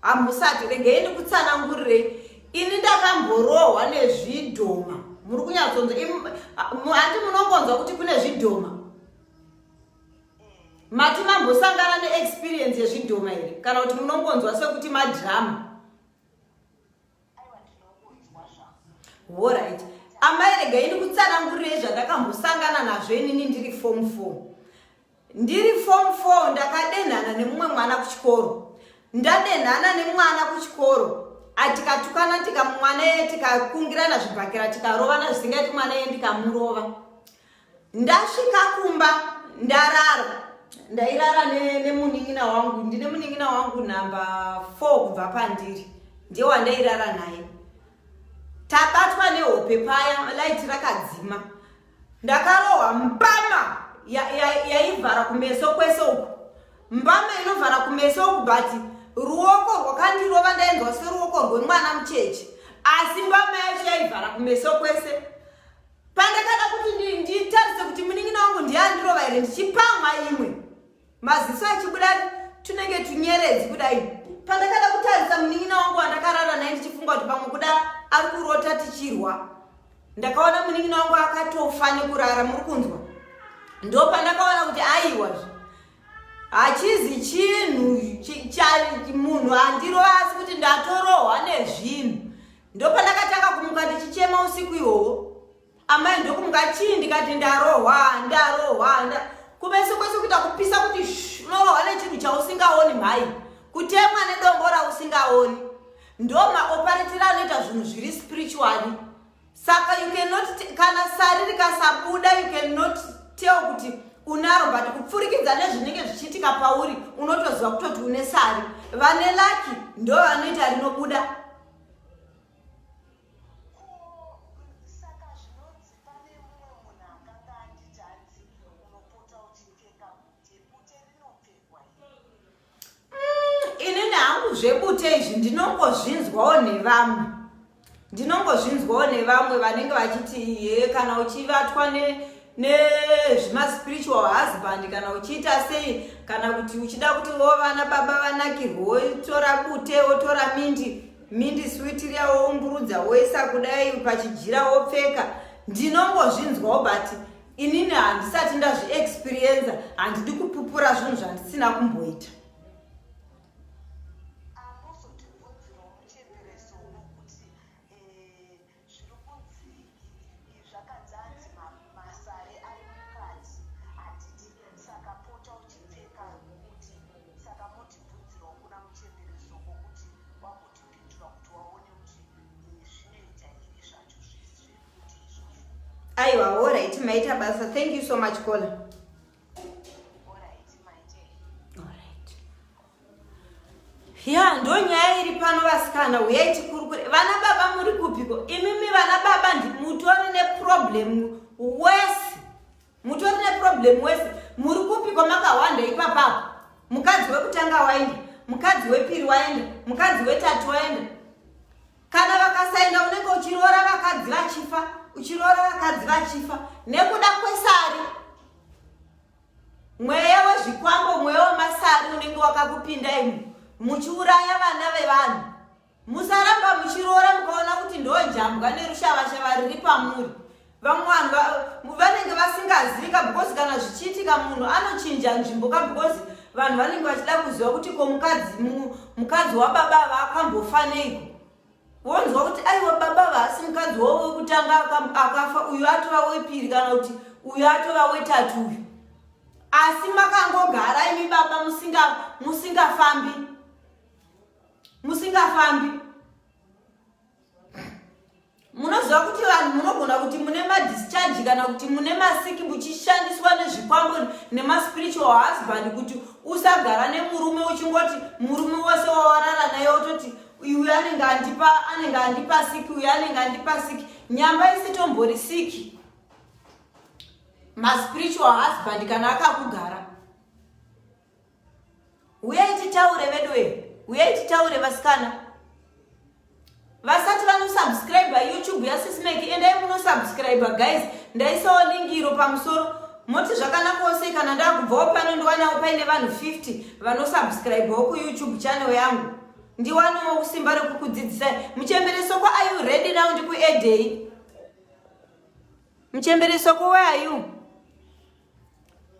hamusati regei ndikutsanangurirei ini ndakamborohwa nezvidhoma muri kunyatsonza handi munongonzwa kuti kune zvidhoma mati mambosangana neexperience yezvidhoma here kana kuti munongonzwa sekuti madrama Alright. Amai rega ini kutsanangurirei zvandakambosangana nazvo inini ndiri form 4. Ndiri form 4 ndakadenhana nemumwe mwana kuchikoro. Ndadenhana nemwana kuchikoro atikatukana tikamwana ye tikakungirana zvibhakira tikarovana zvisingaiti mwana ye ndikamurova. ndasvika kumba ndarara ndairara nemunin'ina ne wangu ndine munin'ina wangu number four kubva pandiri ndiye wandairara naye tabatwa nehope paya laiti rakadzima ndakarohwa mbama yaivhara ya, ya kumeso kwese uku mbama inovhara kumeso uku but ruoko rwakandirova ndainzwa seruoko rwemwana mucheche asi mbama yacho yaivhara kumeso kwese pandakada kuti nditarise kuti munin'ina wangu ndiye andirova here ndichipamwa imwe maziso achibuda tunenge tunyeredzi kudai pandakada kutarisa munin'ina wangu wandakarara naye ndichifunga kuti pamwe kuda ari kurota tichirwa ndakaona munin'ina wangu akatofa nekurara muri kunzwa ndo pandakaona kuti aiwazve hachizi chinhu munhu andirova asi kuti ndatorohwa nezvinhu ndopandakatanga kumuka ndichichema usiku ihoho amai ndokumuka chii ndikati ndarohwa ndarohwa kumeso kwese kuita kupisa kuti unorohwa nechinhu chausingaoni mhai kutemwa nedombo rausingaoni ndomaoparetira anoita zvinhu zviri spirituali saka you cannot kana sari rikasabuda you cannot tell kuti unaro but kupfurikidza nezvinenge zvichiitika pauri unotoziva kutoti une sari vane laki ndo vanoita rinobuda zvebute izvi ndinongozvinzwawo nevamwe ndinongozvinzwawo nevamwe vanenge vachiti ye kana uchivatwa nezvimaspiritual husband kana uchiita sei kana kuti uchida kuti wo vana baba vanakirwe wotora bute wotora mindi mindi switiriya woumburudza woisa kudai pachijira wopfeka ndinongozvinzwawo but inini handisati ndazviexperienza handidi kupupura zvinhu zvandisina kumboita Zviri kunzii izvi zvakanzi hanzi masare ari mukati hatidi saka pota uchipfeka kuti saka motibvunzirawo kuna muchembere soko kuti wakutipindura kuti waone kuti zvinoita iri zvacho zvese zvekuti izvozvo. Aiwa, alright maita basa. Thank you so much caller. ya ndo nyaya iri pano vasikana huyai tikurukure vana baba muri kupiko imimi vana baba mutori neproblem wese mutori neproblem wese muri kupiko makahwanda ipapapo mukadzi wekutanga waenda mukadzi wepiri waenda mukadzi wetatu waenda kana vakasaenda unenge uchiroora vakadzi vachifa uchiroora vakadzi vachifa nekuda kwesari mweya wezvikwambo mweya wemasari unenge wakakupinda imu muchiuraya vana vevanhu musaramba muchiroora mukaona kuti ndojambwa nerushavashava riri pamuri vamwe vanhu vanenge vasingazika because kana zvichiitika munhu anochinja nzvimbo ka because vanhu vanenge vachida kuziva kuti ko mukadzi mukadzi wababa vaakambofaneiko wonzwa kuti aiwa baba vaasi mukadzi wavo wekutanga akafa uyu atova wepiri kana kuti uyu atova wetatu uyu asi makangogara imi baba musingafambi musingafambi munoziva kuti vanhu munogona kuti mune madischarge kana kuti mune masiki muchishandiswa nezvikwambo nemaspiritual husband kuti usagara nemurume uchingoti murume wose wawarara naye ototi uyu anenge andipa anenge andipa siki uyu anenge andipa siki nyamba isitombori siki maspiritual husband kana akakugara Huyai titaure veduwe, huyai titaure vasikana. Vasati vanosubscribe YouTube yaSismeki, endai munosubscribe guys. Ndaisawo link iro pamusoro. Moti zvakanaka ose kana ndakubvawo pano ndiwanawo paine vanhu 50 vanosubscribewo kuYouTube channel yangu. Ndiwanawo kusimba rekukudzidzisai. Muchembereso kwa are you ready now ndikuedei? Muchembereso kwa where are you?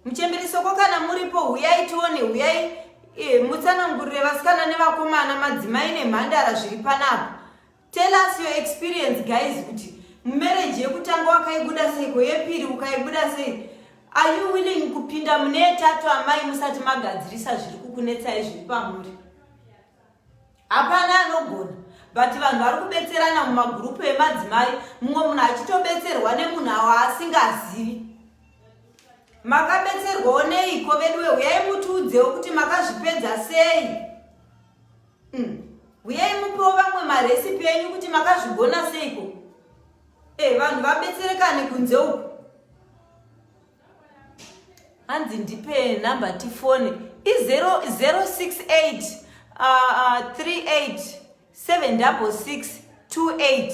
Muchembere soko kana muripo huyai tione huyai eh, mutsanangurire vasikana nevakomana madzimai nemhandara zviri panapa. Tell us your experience guys kuti marriage yekutanga wakaibuda sei ko yepiri ukaibuda sei. Are you willing kupinda mune tatu amai musati magadzirisa zviri kukunetsai zviri pamuri? Hapana anogona but vanhu vari kubetserana mumagurupu emadzimai mumwe munhu achitobetserwa nemunhu awo asingazivi makabetserwawo neiko veduwe huyai mutiudzewo kuti makazvipedza sei hmm. huyai mm. mupewo vamwe maresipi enyu kuti makazvigona seiko e eh, vanhu vabetserekane kunze uku hanzi ndipe number tifone i068 38 766 28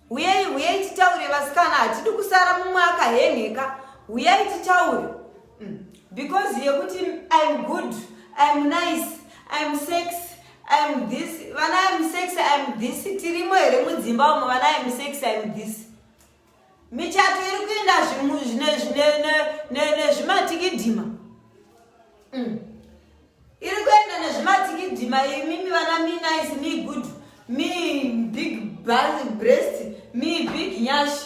huyei huyei titaure vasikana hatidi kusara mumwe akahenheka huyei titaure mm. because yekuti im good im nice im sex im this vana im sex im this tirimo here mudzimba umo vana im sex im this michato iri kuenda nezvimatikidhima mm. iri kuenda nezvimatikidhima imimi vana mi nice mi good mi big breast mi big nyashi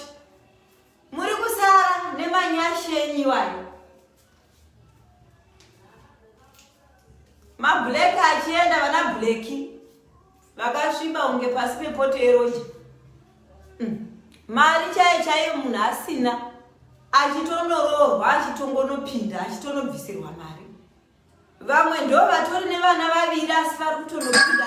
muri kusara nemanyashi enyu iwayo mablack achienda vana blacky Makasviba kunge pasi pepoto yeroja. Mm. Mari chaiyo chaiyo munhu asina achitonoroorwa achitongonopinda achitonobvisirwa mari. Vamwe ndo vatori nevana vaviri asi vari kutonopinda.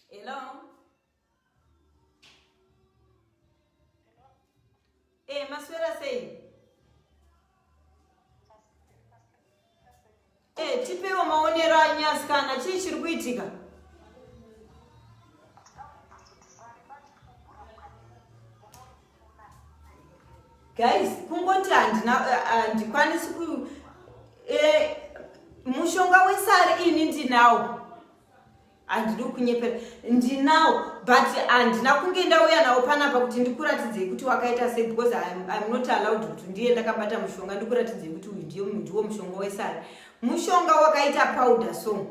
Hello. Eh, maswera sei? Eh, tipewo maonero anyu asikana, chii chiri kuitika? Guys, kungoti handina eh, handikwanisi ku eh, mushonga wesari ini ndinawo. handidi kunyepera ndinawo but handina kunge ndauya nawo panapa kuti ndikuratidzei kuti wakaita sei because im not allowed kuti ndiye ndakabata mushonga ndikuratidzei kuti uyu ndiye ndiwo mushonga wesari mushonga wakaita powder so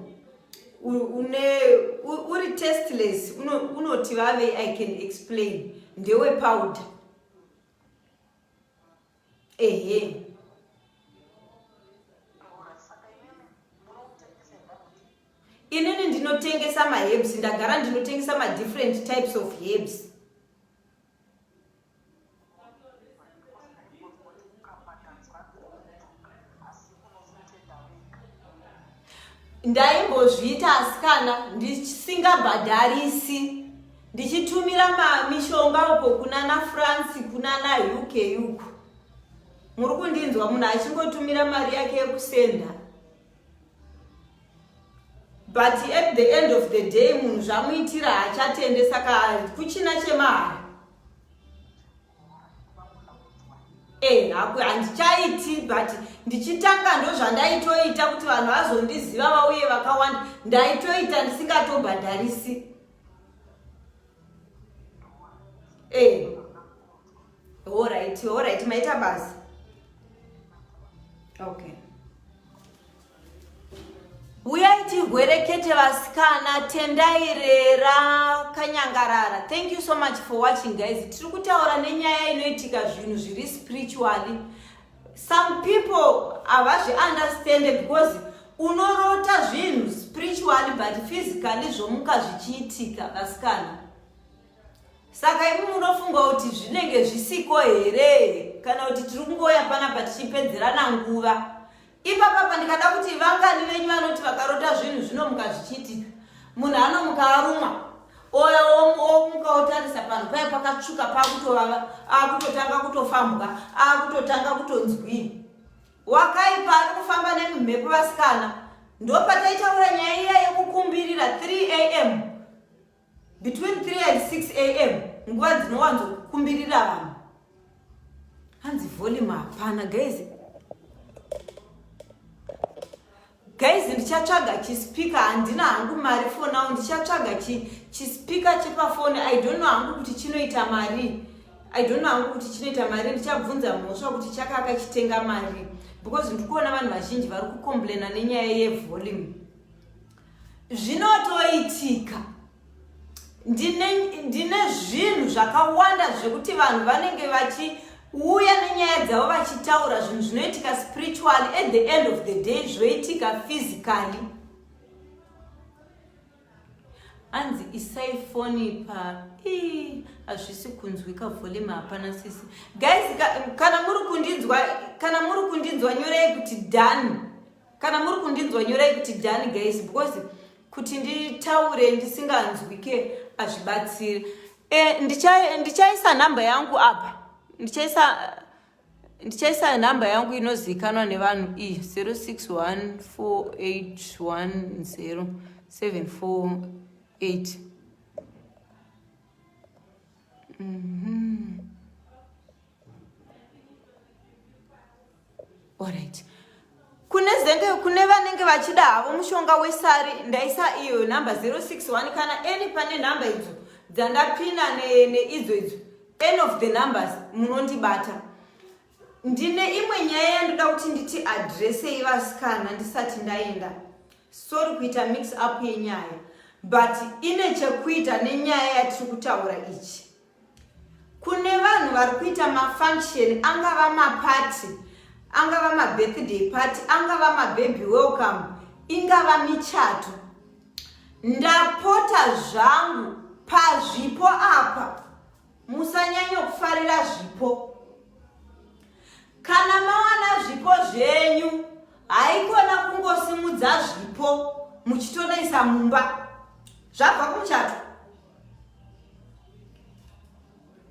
une uri testless unoti vave i can explain ndewe powder ehe inini ndinotengesa maherbs ndagara ndinotengesa madifferent types of herbs ndaimbozviita asikana ndisingabhadharisi ndichitumira mishonga uko kuna na france kuna na uk uko muri kundinzwa munhu achingotumira mari yake yekusenda but at the end of the day munhu zvamuitira haachatende saka kuchina chemahara Eh, handichaiti but ndichitanga ndozvandaitoita kuti vanhu vazondiziva vauye vakawanda ndaitoita ndisingatobhadharisi eh, orit orit maita basa okay Uyai tirwerekete vasikana tendai rera kanyangarara. Thank you so much for watching guys. Tiri kutaura nenyaya inoitika zvinhu zviri spiritually. Some people havazvi understand because unorota zvinhu spiritually but physically zvomuka zvichiitika vasikana. Saka imi munofunga kuti zvinenge zvisiko here kana kuti tiri kungoya panapa tichipedzerana nguva. ipapapa ndikada kuti vangani venyu vanoti vakarota zvinhu zvinomuka zvichiitika munhu anomuka arumwa oya omuka otarisa panhu paye pakatsvuka pakutovava akutotanga kutofambwa akutotanga kutonzwii wakaipa ari kufamba nemumhepo vasikana ndopataitaura nyaya iya yekukumbirira 3 am between 3 and 6 am nguva dzinowanzo kukumbirira vanhu hanzi volume hapana guys guys ndichatsvaga chispika handina hangu mari for now ndichatsvaga chispika chepafoni i don't know hangu kuti chinoita mari i don't know hangu kuti chinoita mari ndichabvunza mhosva kuti chakaka chitenga mari because ndikuona vanhu vazhinji vari kucomplaina nenyaya yevolume zvinotoitika ndine ndine zvinhu zvakawanda zvekuti vanhu vanenge vachiuya nenyaya dzavo vachitaura zvinhu zvinoitika spiritually at the end of the day zvoitika physically anzi isai foni pa hazvisi kunzwika volume hapana sisi guys kana muri kundinzwa kana muri kundinzwa nyorei kuti done kana muri kundinzwa nyorai kuti dani guys because kuti nditaure ndisinganzwike hazvibatsiri e, eh, ndichaisa ndicha nhamba yangu apa ndichaisa ndichaisa nhamba yangu inozivikanwa nevanhu iyi 0614810748 Mhm. Alright. Kune zenge kune vanenge vachida havo mushonga wesari ndaisa iyo number 061 kana any pane number idzo dzandapina neidzo idzo any of the numbers munondibata ndine imwe nyaya yandoda kuti nditi adrese ivasikana ndisati ndaenda Sorry kuita mix up yenyaya but ine chekuita nenyaya yatiri kutaura ichi. Kune vanhu vari kuita mafunction angava mapati, angava mabirthday party, angava mababy welcome, ingava michato. Ndapota zvangu pazvipo apa Musanyanya kufarira zvipo. Kana mawana zvipo zvenyu, haikona kungosimudza zvipo muchitonoisa mumba. Zvabva kumuchato.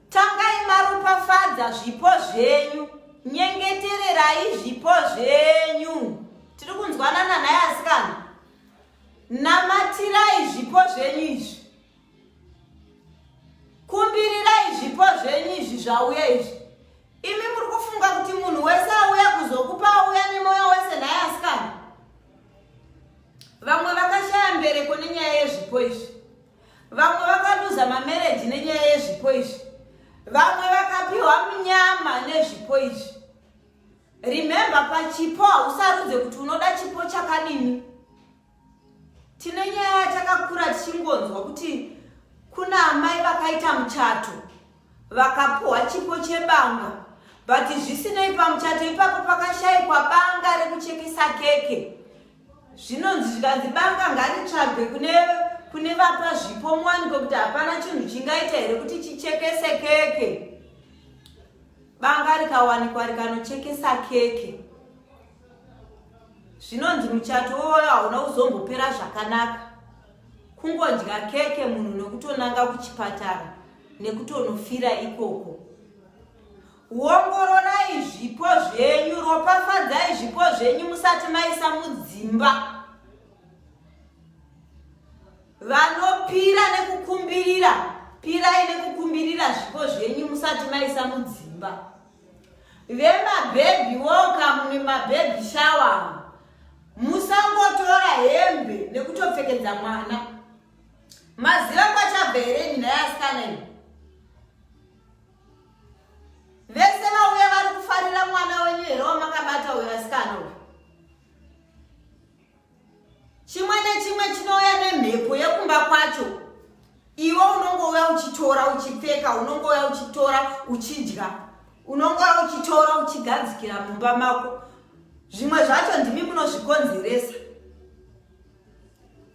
Tangai maropafadza zvipo zvenyu, nyengetererai zvipo zvenyu. Tiri kunzwanana naye asikana. Namatirai zvipo zvenyu izvi. kumbirirai zvipo zvenyu izvi zvauya izvi imi muri kufunga kuti munhu wese auya kuzokupa auya nemwoyo wese nhai asikana vamwe vakashaya mbereko nenyaya yezvipo izvi vamwe vakaduza mamereji nenyaya yezvipo izvi vamwe vakapiwa munyama nezvipo izvi remembe pachipo hausarudze kuti unoda chipo chakadini Tine nyaya yatakakura tichingonzwa kuti kuna amai vakaita muchato vakapuhwa chipo chebanga but zvisinei pamuchato ipapo pakashaikwa banga rekuchekesa keke zvinonzi zvikanzi banga ngaritsvagwe kune kune vapa zvipo muwaniko kuti hapana chinhu chingaita here kuti chichekese keke banga rikawanikwa rikanochekesa keke zvinonzi muchato woyo hauna kuzombopera zvakanaka kungodya keke munhu nekutonanga kuchipatara nekutonofira ikoko wongororai zvipo zvenyu ropafadzai zvipo zvenyu musati maisa mudzimba vanopira nekukumbirira pirai nekukumbirira zvipo zvenyu musati maisa mudzimba Vemabhebhi welcome nemabhebhi shawa musangotora hembe nekutopfekedza mwana maziva kwachabva here nyina yasikana iyi vese vauya vari kufarira mwana wenyu here wamakabata uyo asikana uyo chimwe nechimwe chinouya nemhepo yekumba kwacho iwe unongouya uchitora uchipfeka unongouya uchitora uchidya unongouya uchitora uchigadzikira mumba mako zvimwe zvacho ndimi munozvikonzeresa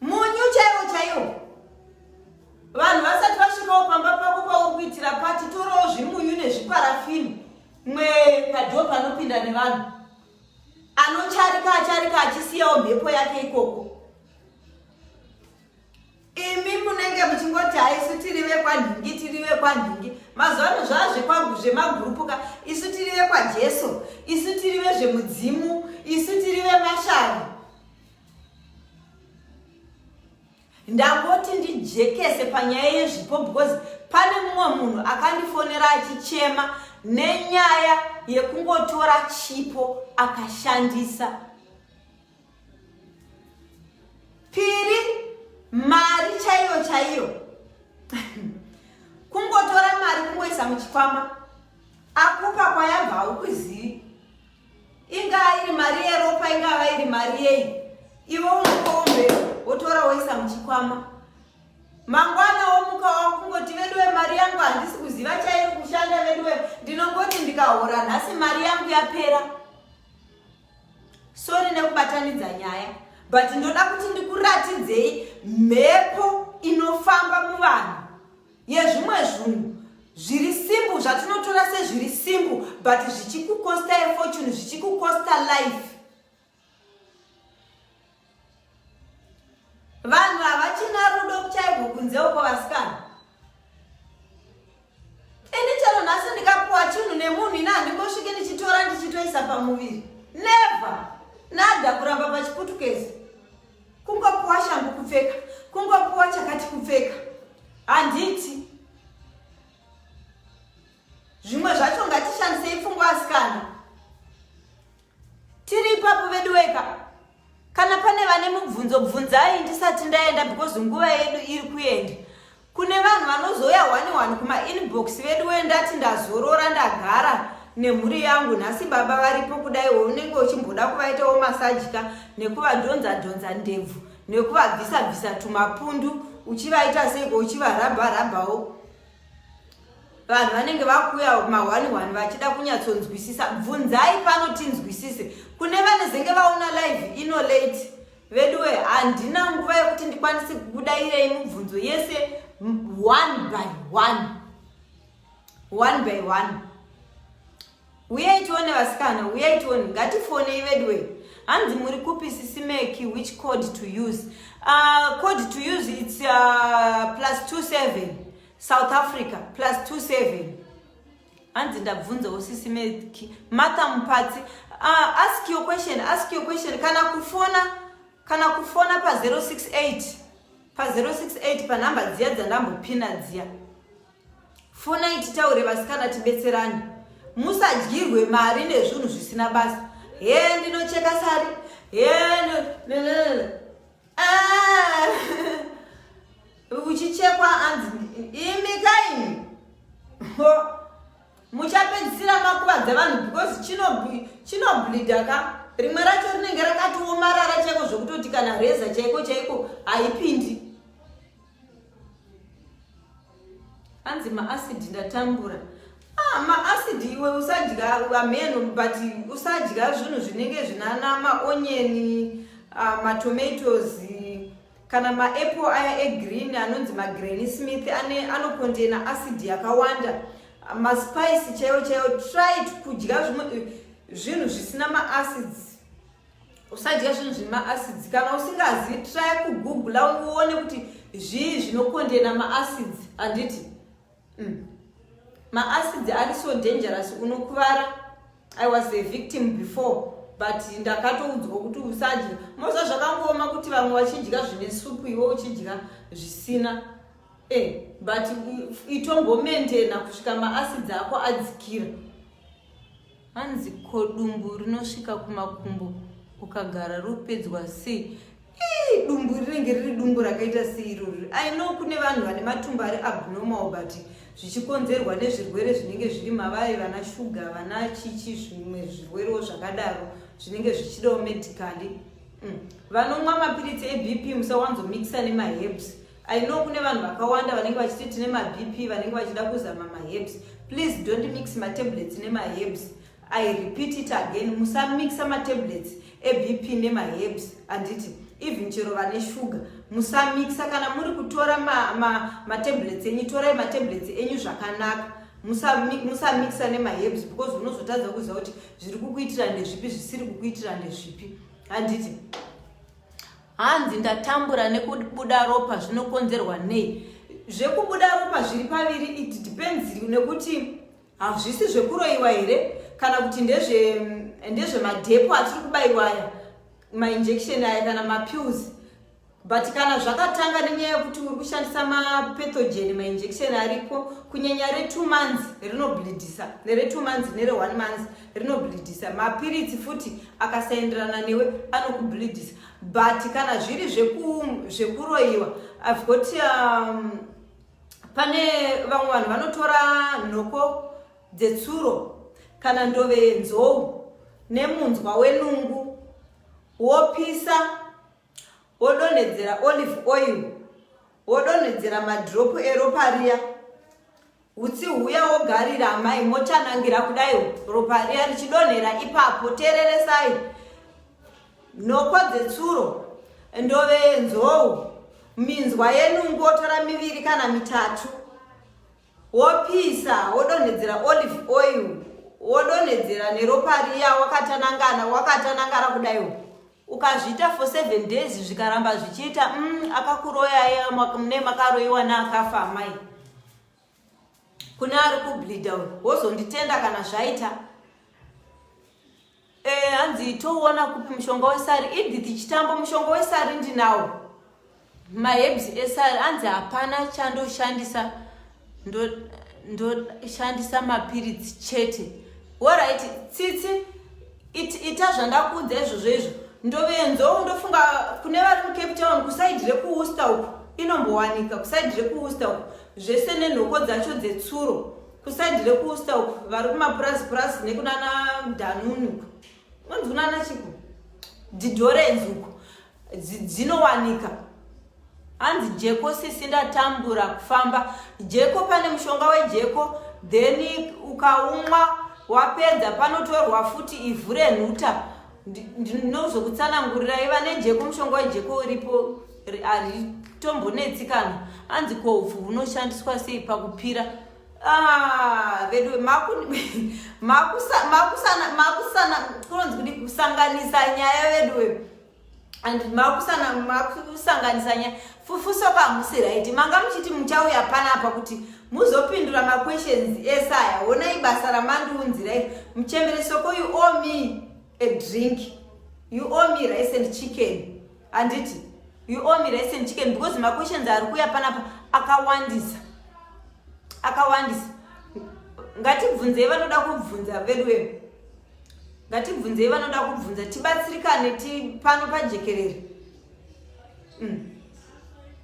munyu chaiwo chaiwo vanhu vasati vasvikawo pamba pako pauri kuitira pati torawo zvimunyu nezviparafini mwe padoo panopinda nevanhu anocharika acharika achisiyawo mhepo yake ikoko imi munenge muchingoti haisu tiri vekwanhingi tiri vekwanhingi mazuva ano zvaa zvemagurupuka isu tiri vekwajesu isu tiri vezvemudzimu isu tiri vemashani Ndangoti ndijekese panyaya yezvipo because pane mumwe munhu akandifonera achichema nenyaya yekungotora chipo akashandisa piri mari chaiyo chaiyo kungotora mari kungoisa muchikwama akupa kwayabva haukuzivi ingaa iri mari yeropa ingava iri mari yei ivo unokombe wotora woisa muchikwama mangwana womuka wakungoti veduwe mari yangu handisi kuziva chairi kushanda veduwe ndinongoti ndikahora nhasi mari yangu yapera sori nekubatanidza nyaya but ndoda kuti ndikuratidzei mhepo inofamba muvanhu yezvimwe zvunhu zviri simple zvatinotora sezviri simple but zvichikukosta efortune zvichikukosta life vanhu havachina rudo kuchaiko kunze uko vasikana ini chero nhasi ndikapuwa chinhu nemunhu ini handingosvike ndichitora ndichitoisa pamuviri never nada kuramba pachiputukezi kungopuwa shangu kupfeka kungopuwa chakati kupfeka handiti zvimwe zvacho ngatishandisei pfungwa asikana tiri ipapo vedu weka kana pane vane mubvunzo bvunzai ndisati ndaenda because nguva yedu iri kuenda Kune vanhu vanozouya hwani hwani kumainbox vedu we ndati ndazorora ndagara nemhuri yangu nhasi baba varipo kudaiwo unenge uchimboda kuvaitawo masajika nekuvadhonza dhonza ndebvu nekuvabvisa bvisa tumapundu uchivaita seiko uchivarabha rabhawo vanhu vanenge vakuuya mahwani hwani vachida kunyatsonzwisisa bvunzai pano tinzwisise kune vanezenge vaona live ino late veduwe handina nguva yekuti ndikwanise kubuda iyei mubvunzo yese one by one one by one uyai tione vasikana uyai tione ngatifonei veduwe hanzi muri kupi sisimeki which code to use uh, code to use its uh, plus 27 south africa plus 27 hanzi ndabvunzawo sisi meki martha mupatsi uh, ask your question ask your question kana kufona kana kufona pa 068 pa 068 panhamba dziya dzandambopina dziya fonai titaure vasikana tibetserani musadyirwe mari nezvinhu zvisina basa he ndinocheka sari he ah! uchichekwa hanzi imi kaini muchapedzisira makuvadza vanhu because chinoblida ka rimwe racho rinenge rakatiomarara chaiko zvekutoti kana reza chaiko chaiko haipindi hanzi maasidi ndatambura ah, maasidi iwe usadya ameno but usadya zvinhu zvinenge zvinana maonyeni ah, matomatoes Kana maapple aya egreen anonzi magranny smith ane anokontaina acid yakawanda maspice chaiwo chaiwo try kudya zvimwe eh, zvinhu zvisina maacids usadya zvinhu zvine maacids kana usingazi try kugoogla uone kuti zvii zvinokontaina maacids handiti mm. maacids ari so dangerous unokuvara i was a victim before but ndakatoudzwa kuti usadya moza zvakangooma kuti vamwe vachidya zvine supu iwe uchidya zvisina e but itombomentena kusvika maacids ako adzikira hanzi ko dumbu rinosvika kumakumbo ukagara ropedzwa sei ii dumbu rinenge riri dumbu rakaita seirori i know kune vanhu vane matumbu ari abnormal but zvichikonzerwa nezvirwere zvinenge zviri mavai vana shuga vana chichi zvimwe zvirwerewo zvakadaro zvinenge zvichidawo medically mm. vanomwa mapiritsi ebp musawanzomikisa nemahebs I know kune vanhu vakawanda vanenge vachiti tine mabp vanenge vachida kuzama maherbs please don't mix matablets nemaherbs i repeat it again musamixa matablets ebp nemaherbs handiti even chero vane shuga musamixa kana muri kutora matablets ma, ma enyu torai matablets enyu zvakanaka musamixa nemaherbs because unozotadza kuziva kuti zviri kukuitira ndezvipi zvisiri kukuitira ndezvipi handiti hanzi ndatambura nekubuda ropa zvinokonzerwa nei zvekubuda ropa zviri paviri it depends nekuti hazvisi zvekuroiwa here kana kuti ndezvemadhepo mm, atiri kubaiwa aya mainjection aya kana mapills but kana zvakatanga nenyaya yekuti uri kushandisa mapethogen mainjection ariko kunyanya retwo months rinoblidisa neretwo months nere one months rinobhilidhisa mapiritsi futi akasaenderana newe anokubhilidhisa but kana zviri zvekuroyiwa i've got um, pane vamwe vanhu vanotora nhoko dzetsuro kana ndove yenzou nemunzwa wenungu wopisa wodonhedzera olive oil wodonhedzera madropu eropa riya Hutsi huya wogarira amai mochanangira kudai ropa riya richidonhera ipapo tereresai nhoko dzetsuro ndove yenzou minzwa yenungu wotora miviri kana mitatu wopisa wodonhedzera olive oil wodonhedzera neropa riya wakatanangana wakatanangara kudaiwo ukazviita for seven days zvikaramba zvichiita mm, akakuroyaye mune makaroyiwa naakafa amai kune ari kublida uyu wozonditenda kana zvaita eh, hanzi e, toona kupi mushonga wesari idi tichitambo mushonga wesari ndinawo Maherbs esari anzi hapana chandoshandisa ndoshandisa ndo, mapiritsi chete. Alright, tsitsi it, ita zvandakuudza izvozvo izvo. Ndovenzo ndofunga kune vari muCape Town kusaidi rekuWorcester uko inombowanika kusaidi rekuWorcester uko zvese nenhoko dzacho dzetsuro kusaidi rekuWorcester uko vari kumapurazi purazi nekunana Danunu uko. Unonzi kunana chiko? Didorenzi uko. dzinowanika hanzi jeko sisi ndatambura kufamba jeko pane mushonga wejeko then ukaumwa wapedza panotorwa futi ivhu renhuta ndinozokutsanangurirai vane jeko mushonga wejeko uripo haritombonetsi kana hanzi ko upfu hunoshandiswa sei pakupira ah, vedu makusanganisa nyaya veduwe and makusanganisanya fufuso pamusi right manga muchiti muchauya panapa kuti muzopindura maquestions ese aya honai basa ramandiunzirai muchembere soko you owe me a drink you owe me rice and chicken handiti you owe me rice and chicken because maquestions ari kuya panapa akawandisa akawandisa ngatibvunzei vanoda kubvunza veduwee ngatibvunzei vanoda kubvunza tibatsirikane tipano pajekerere mm.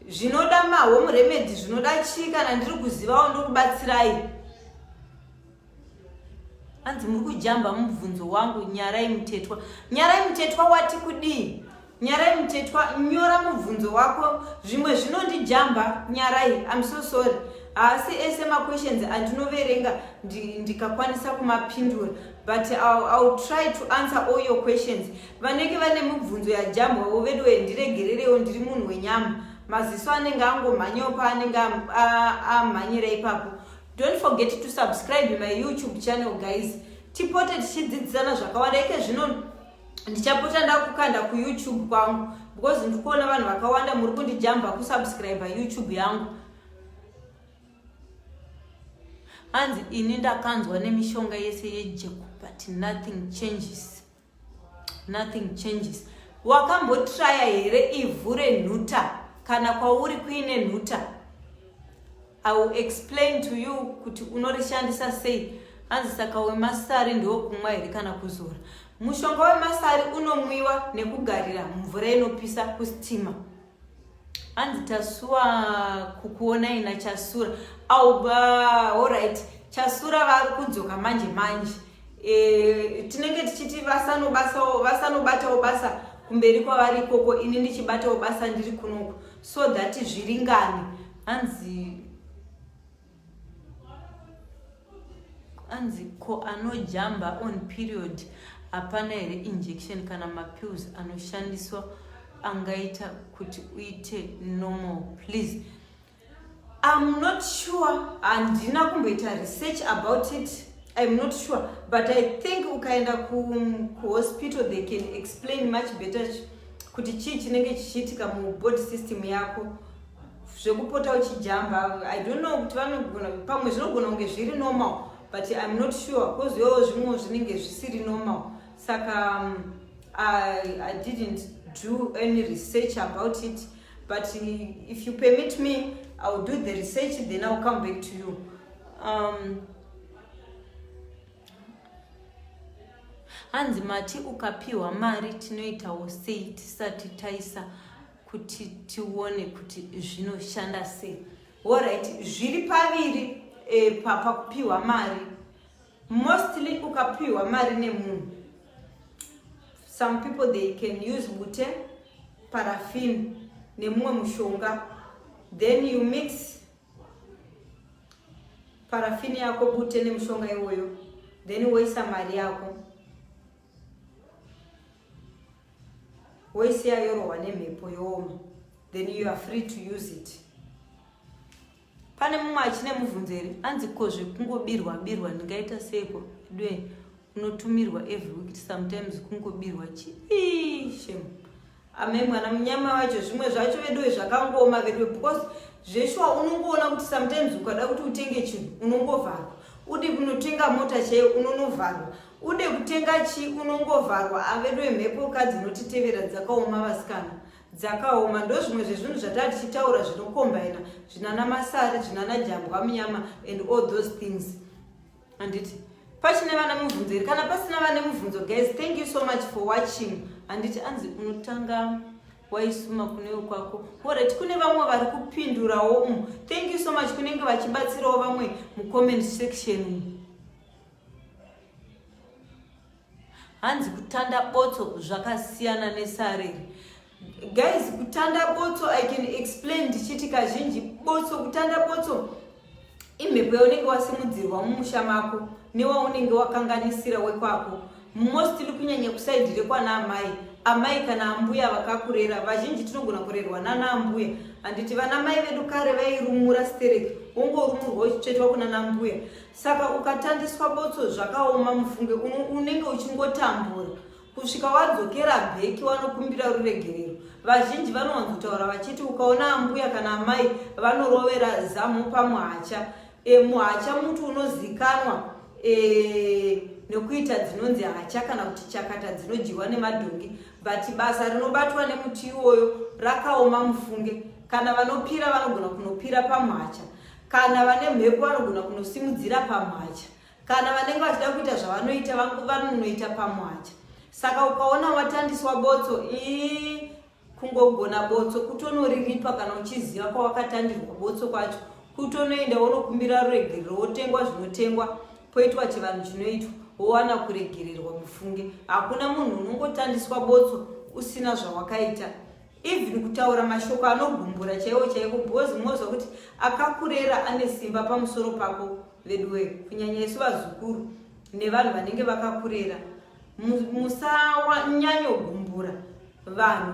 zvinoda mahome remedy zvinoda chii kana ndiri kuzivawo ndokubatsirai hanzi muri kujamba mubvunzo wangu nyarai mutetwa nyarai mutetwa wati kudii Nyarai mutetwa nyora mubvunzo wako zvimwe zvinondijamba nyarai I'm so sorry haasi ese maquestions andinoverenga ndikakwanisa ndi kumapindura but I'll, I'll try to answer all your questions vanenge vane mibvunzo yajambwawo vedu wee ndiregererewo ndiri munhu wenyama maziso anenge angomhanyawo paanenge amhanyira ipapo don't forget to subscribe my youtube channel guys tipote tichidzidzisana zvakawanda ike zvino ndichapota ndakukanda kuyoutube kwangu because ndikuona vanhu vakawanda muri kundijamba kusubscribe youtube yangu hanzi ini ndakanzwa nemishonga yese yejeko but nothing changes nothing changes wakambotraya here ivhu renhuta kana kwauri kuine nhuta I will explain to you kuti unorishandisa sei hanzi saka wemasari ndewokumwa here kana kuzora mushonga wemasari unomwiwa nekugarira mvura inopisa kusitima hanzi tasuwa kukuona ina chasura auba orit chasura vari kudzoka manje manje e, tinenge tichiti vasanobatawo basa kumberi kwavari ikoko ini ndichibatawo basa ndiri kunoko so that zviringane hanzi anzi ko anojamba on period hapana here injection kana mapills anoshandiswa angaita kuti uite normal please im not sure handina kumboita research about it im not sure but i think ukaenda kuhospital ku they can explain much better kuti chii chinenge chichiitika mubody system yako zvekupota uchijamba i don't know kuti vanogona pamwe zvinogona kunge zviri normal but im not sure bcause yowo zvimwewo zvinenge zvisiri normal saka um, I, i didn't do any research about it but if you permit me iwill do the research then iwill come back to you um, hanzi mati ukapiwa mari tinoitawo sei tisati taisa kuti tione kuti zvinoshanda sei orit zviri paviri e, eh, pakupiwa mari mostly ukapiwa mari nemunhu some people they can use bute parafin nemumwe mushonga then you mix parafin yako bute nemushonga iwoyo then woisa mari yako woisiya yorohwa nemhepo yooma then you are free to use it pane mumwe achine mubvunzo here anzi ko zvekungobirwa birwa ndingaita seiko dwe unotumirwa every week sometimes kungobirwa chii shemu Ame mwana munyama wacho zvimwe zvacho veduwe zvakangoma veduwe because zveshuwa unongoona kuti sometimes ukada kuti utenge chinhu unongovharwa ude kunotenga mota chaiyo unonovharwa ude kutenga chii unongovharwa aveduwe mhepo ka dzinotitevera dzakaoma vasikana dzakaoma ndo zvimwe zvezvinhu zvataa tichitaura zvinokombaina zvinana masari zvinana jambwa munyama and all those things handiti pachine vane mubvunzo here kana pasina vane mubvunzo guys thank you so much for watching handiti anzi unotanga waisuma kunewe kwako orit kune vamwe vari kupindurawo umu mm. thank you so much kunenge vachibatsirawo vamwe mucomment section umu hanzi kutanda botso zvakasiyana nesareri guys kutanda botso i can explain ndichiti kazhinji botso kutanda botso imhepo yaunenge wasimudzirwa mumusha mako newaunenge wakanganisira wekwako mostly kunyanya kusaidi rekwana amai amai kana ambuya vakakurera vazhinji tinogona kurerwa nana ambuya handiti vana mai vedu kare vairumura stereki wongorumurwa uchitsvetwa kuna nambuya saka ukatandiswa botso zvakaoma mufunge unenge uchingotambura kusvika wadzokera bheki wanokumbira ruregerero vazhinji vanowanzotaura vachiti ukaona ambuya kana amai vanorovera zamu pamuhacha e, muhacha muti unozikanwa e, nekuita dzinonzi hacha kana kuti chakata dzinodyiwa nemadhongi but basa rinobatwa nemuti iwoyo rakaoma mufunge kana vanopira vanogona kunopira pamuhacha kana vane mhepo vanogona kunosimudzira pamwacha kana vanenge vachida kuita zvavanoita vanonoita pamwacha saka ukaona watandiswa botso ii kungogona botso kutonoriripa kana uchiziva kwawakatandirwa botso kwacho kutonoenda wonokumbira ruregerero wotengwa zvinotengwa poitwa chivanhu chinoitwa wowana kuregererwa mufunge hakuna munhu unongotandiswa botso usina zvawakaita even kutaura mashoko anogumbura chaiwo chaiko because munozwa kuti akakurera ane simba pamusoro pako veduwe kunyanya isu vazukuru nevanhu vanenge vakakurera musanyanyogumbura vanhu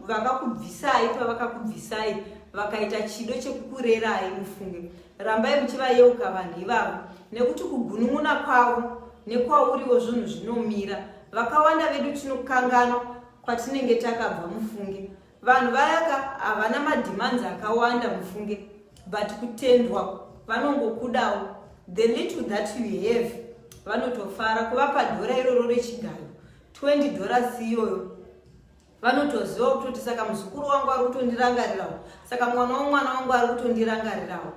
vakakubvisai pavakakubvisai vakaita chido chekukurerai mufunge rambai muchivayeuka vanhu ivavo nekuti kugunun'una kwavo nekwauriwo zvinhu zvinomira vakawanda vedu tinokanganwa kwatinenge takabva mufunge vanhu vayaka havana mademands akawanda mufunge but kutendwa vanongokudawo the little that you have vanotofara kuvapa dhora iroro rechigayo 20 dhora siyoyo vanotoziva kutoti saka muzukuru wangu ari kutondirangarirawo saka mwana womwana wangu ari kutondirangarirawo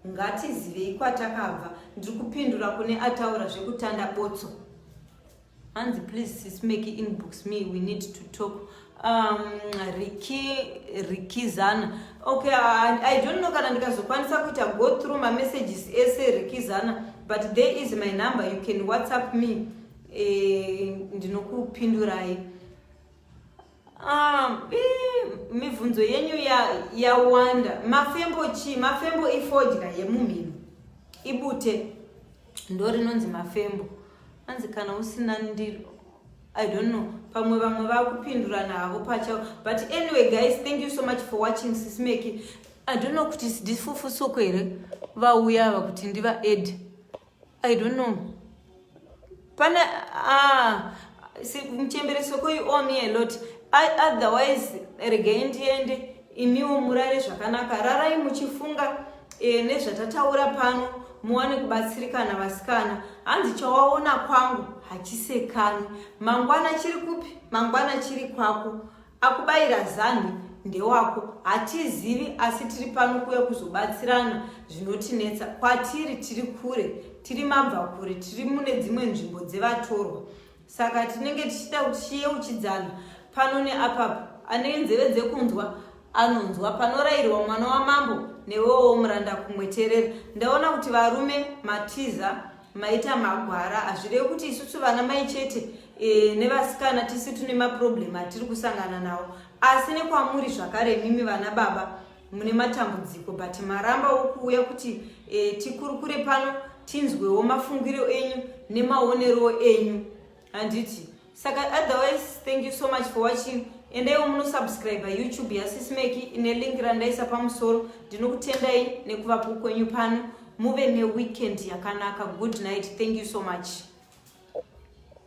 ngatizivei kwatakabva ndiri kupindura kune ataura zvekutanda botso Hanzi please sis Meki inbox me we need to talk um, Ricky Rikizana okay I, I don't know kana ndikazokwanisa kuita go through ma messages ese Rikizana but there is my number you can whatsapp me eh, ndinokupindurai Um, mibvunzo yenyu yawanda ya mafembo chii mafembo ifodya yemumhino ibute ndo rinonzi mafembo anzi kana usina ndiro i don't know pamwe vamwe vakupindurana havo pachavo but anyway guys thank you so much for watching sismeki i don't know kuti ndifufu soko here vauya ava kuti ndiva ed I don't know. Pana ah si mchembere soko you owe me a lot. I otherwise regai ndiende imiwo murare zvakanaka rarai muchifunga eh, nezvatataura pano muwane kubatsirikana vasikana hanzi chawaona kwangu hachisekani mangwana chiri kupi mangwana chiri kwako Akubaira zanhi ndewako hatizivi asi tiri pano kuya kuzobatsirana zvinotinetsa kwatiri tiri kure tiri mabva kure tiri mune dzimwe nzvimbo dzevatorwa saka tinenge tichida kuti chiyeuchidzana pano neapapo ane nzeve dzekunzwa anonzwa panorayirwa mwana wamambo newewo muranda kumweterera ndaona kuti varume matiza maita magwara hazvirevi kuti isusu vana mai chete e, nevasikana tisi tune maproblem atiri kusangana nawo asi nekwamuri zvakare mimi vana baba mune matambudziko but maramba wokuuya kuti e, tikurukure pano tinzwewo mafungiro enyu nemaonerowo enyu handiti saka otherwise thank you so much for watching endaiwo munosubscribe youtube yasismeki ine link randaisa pamusoro ndinokutendai nekuvapo kwenyu pano muve neweekend yakanaka good night thank you so much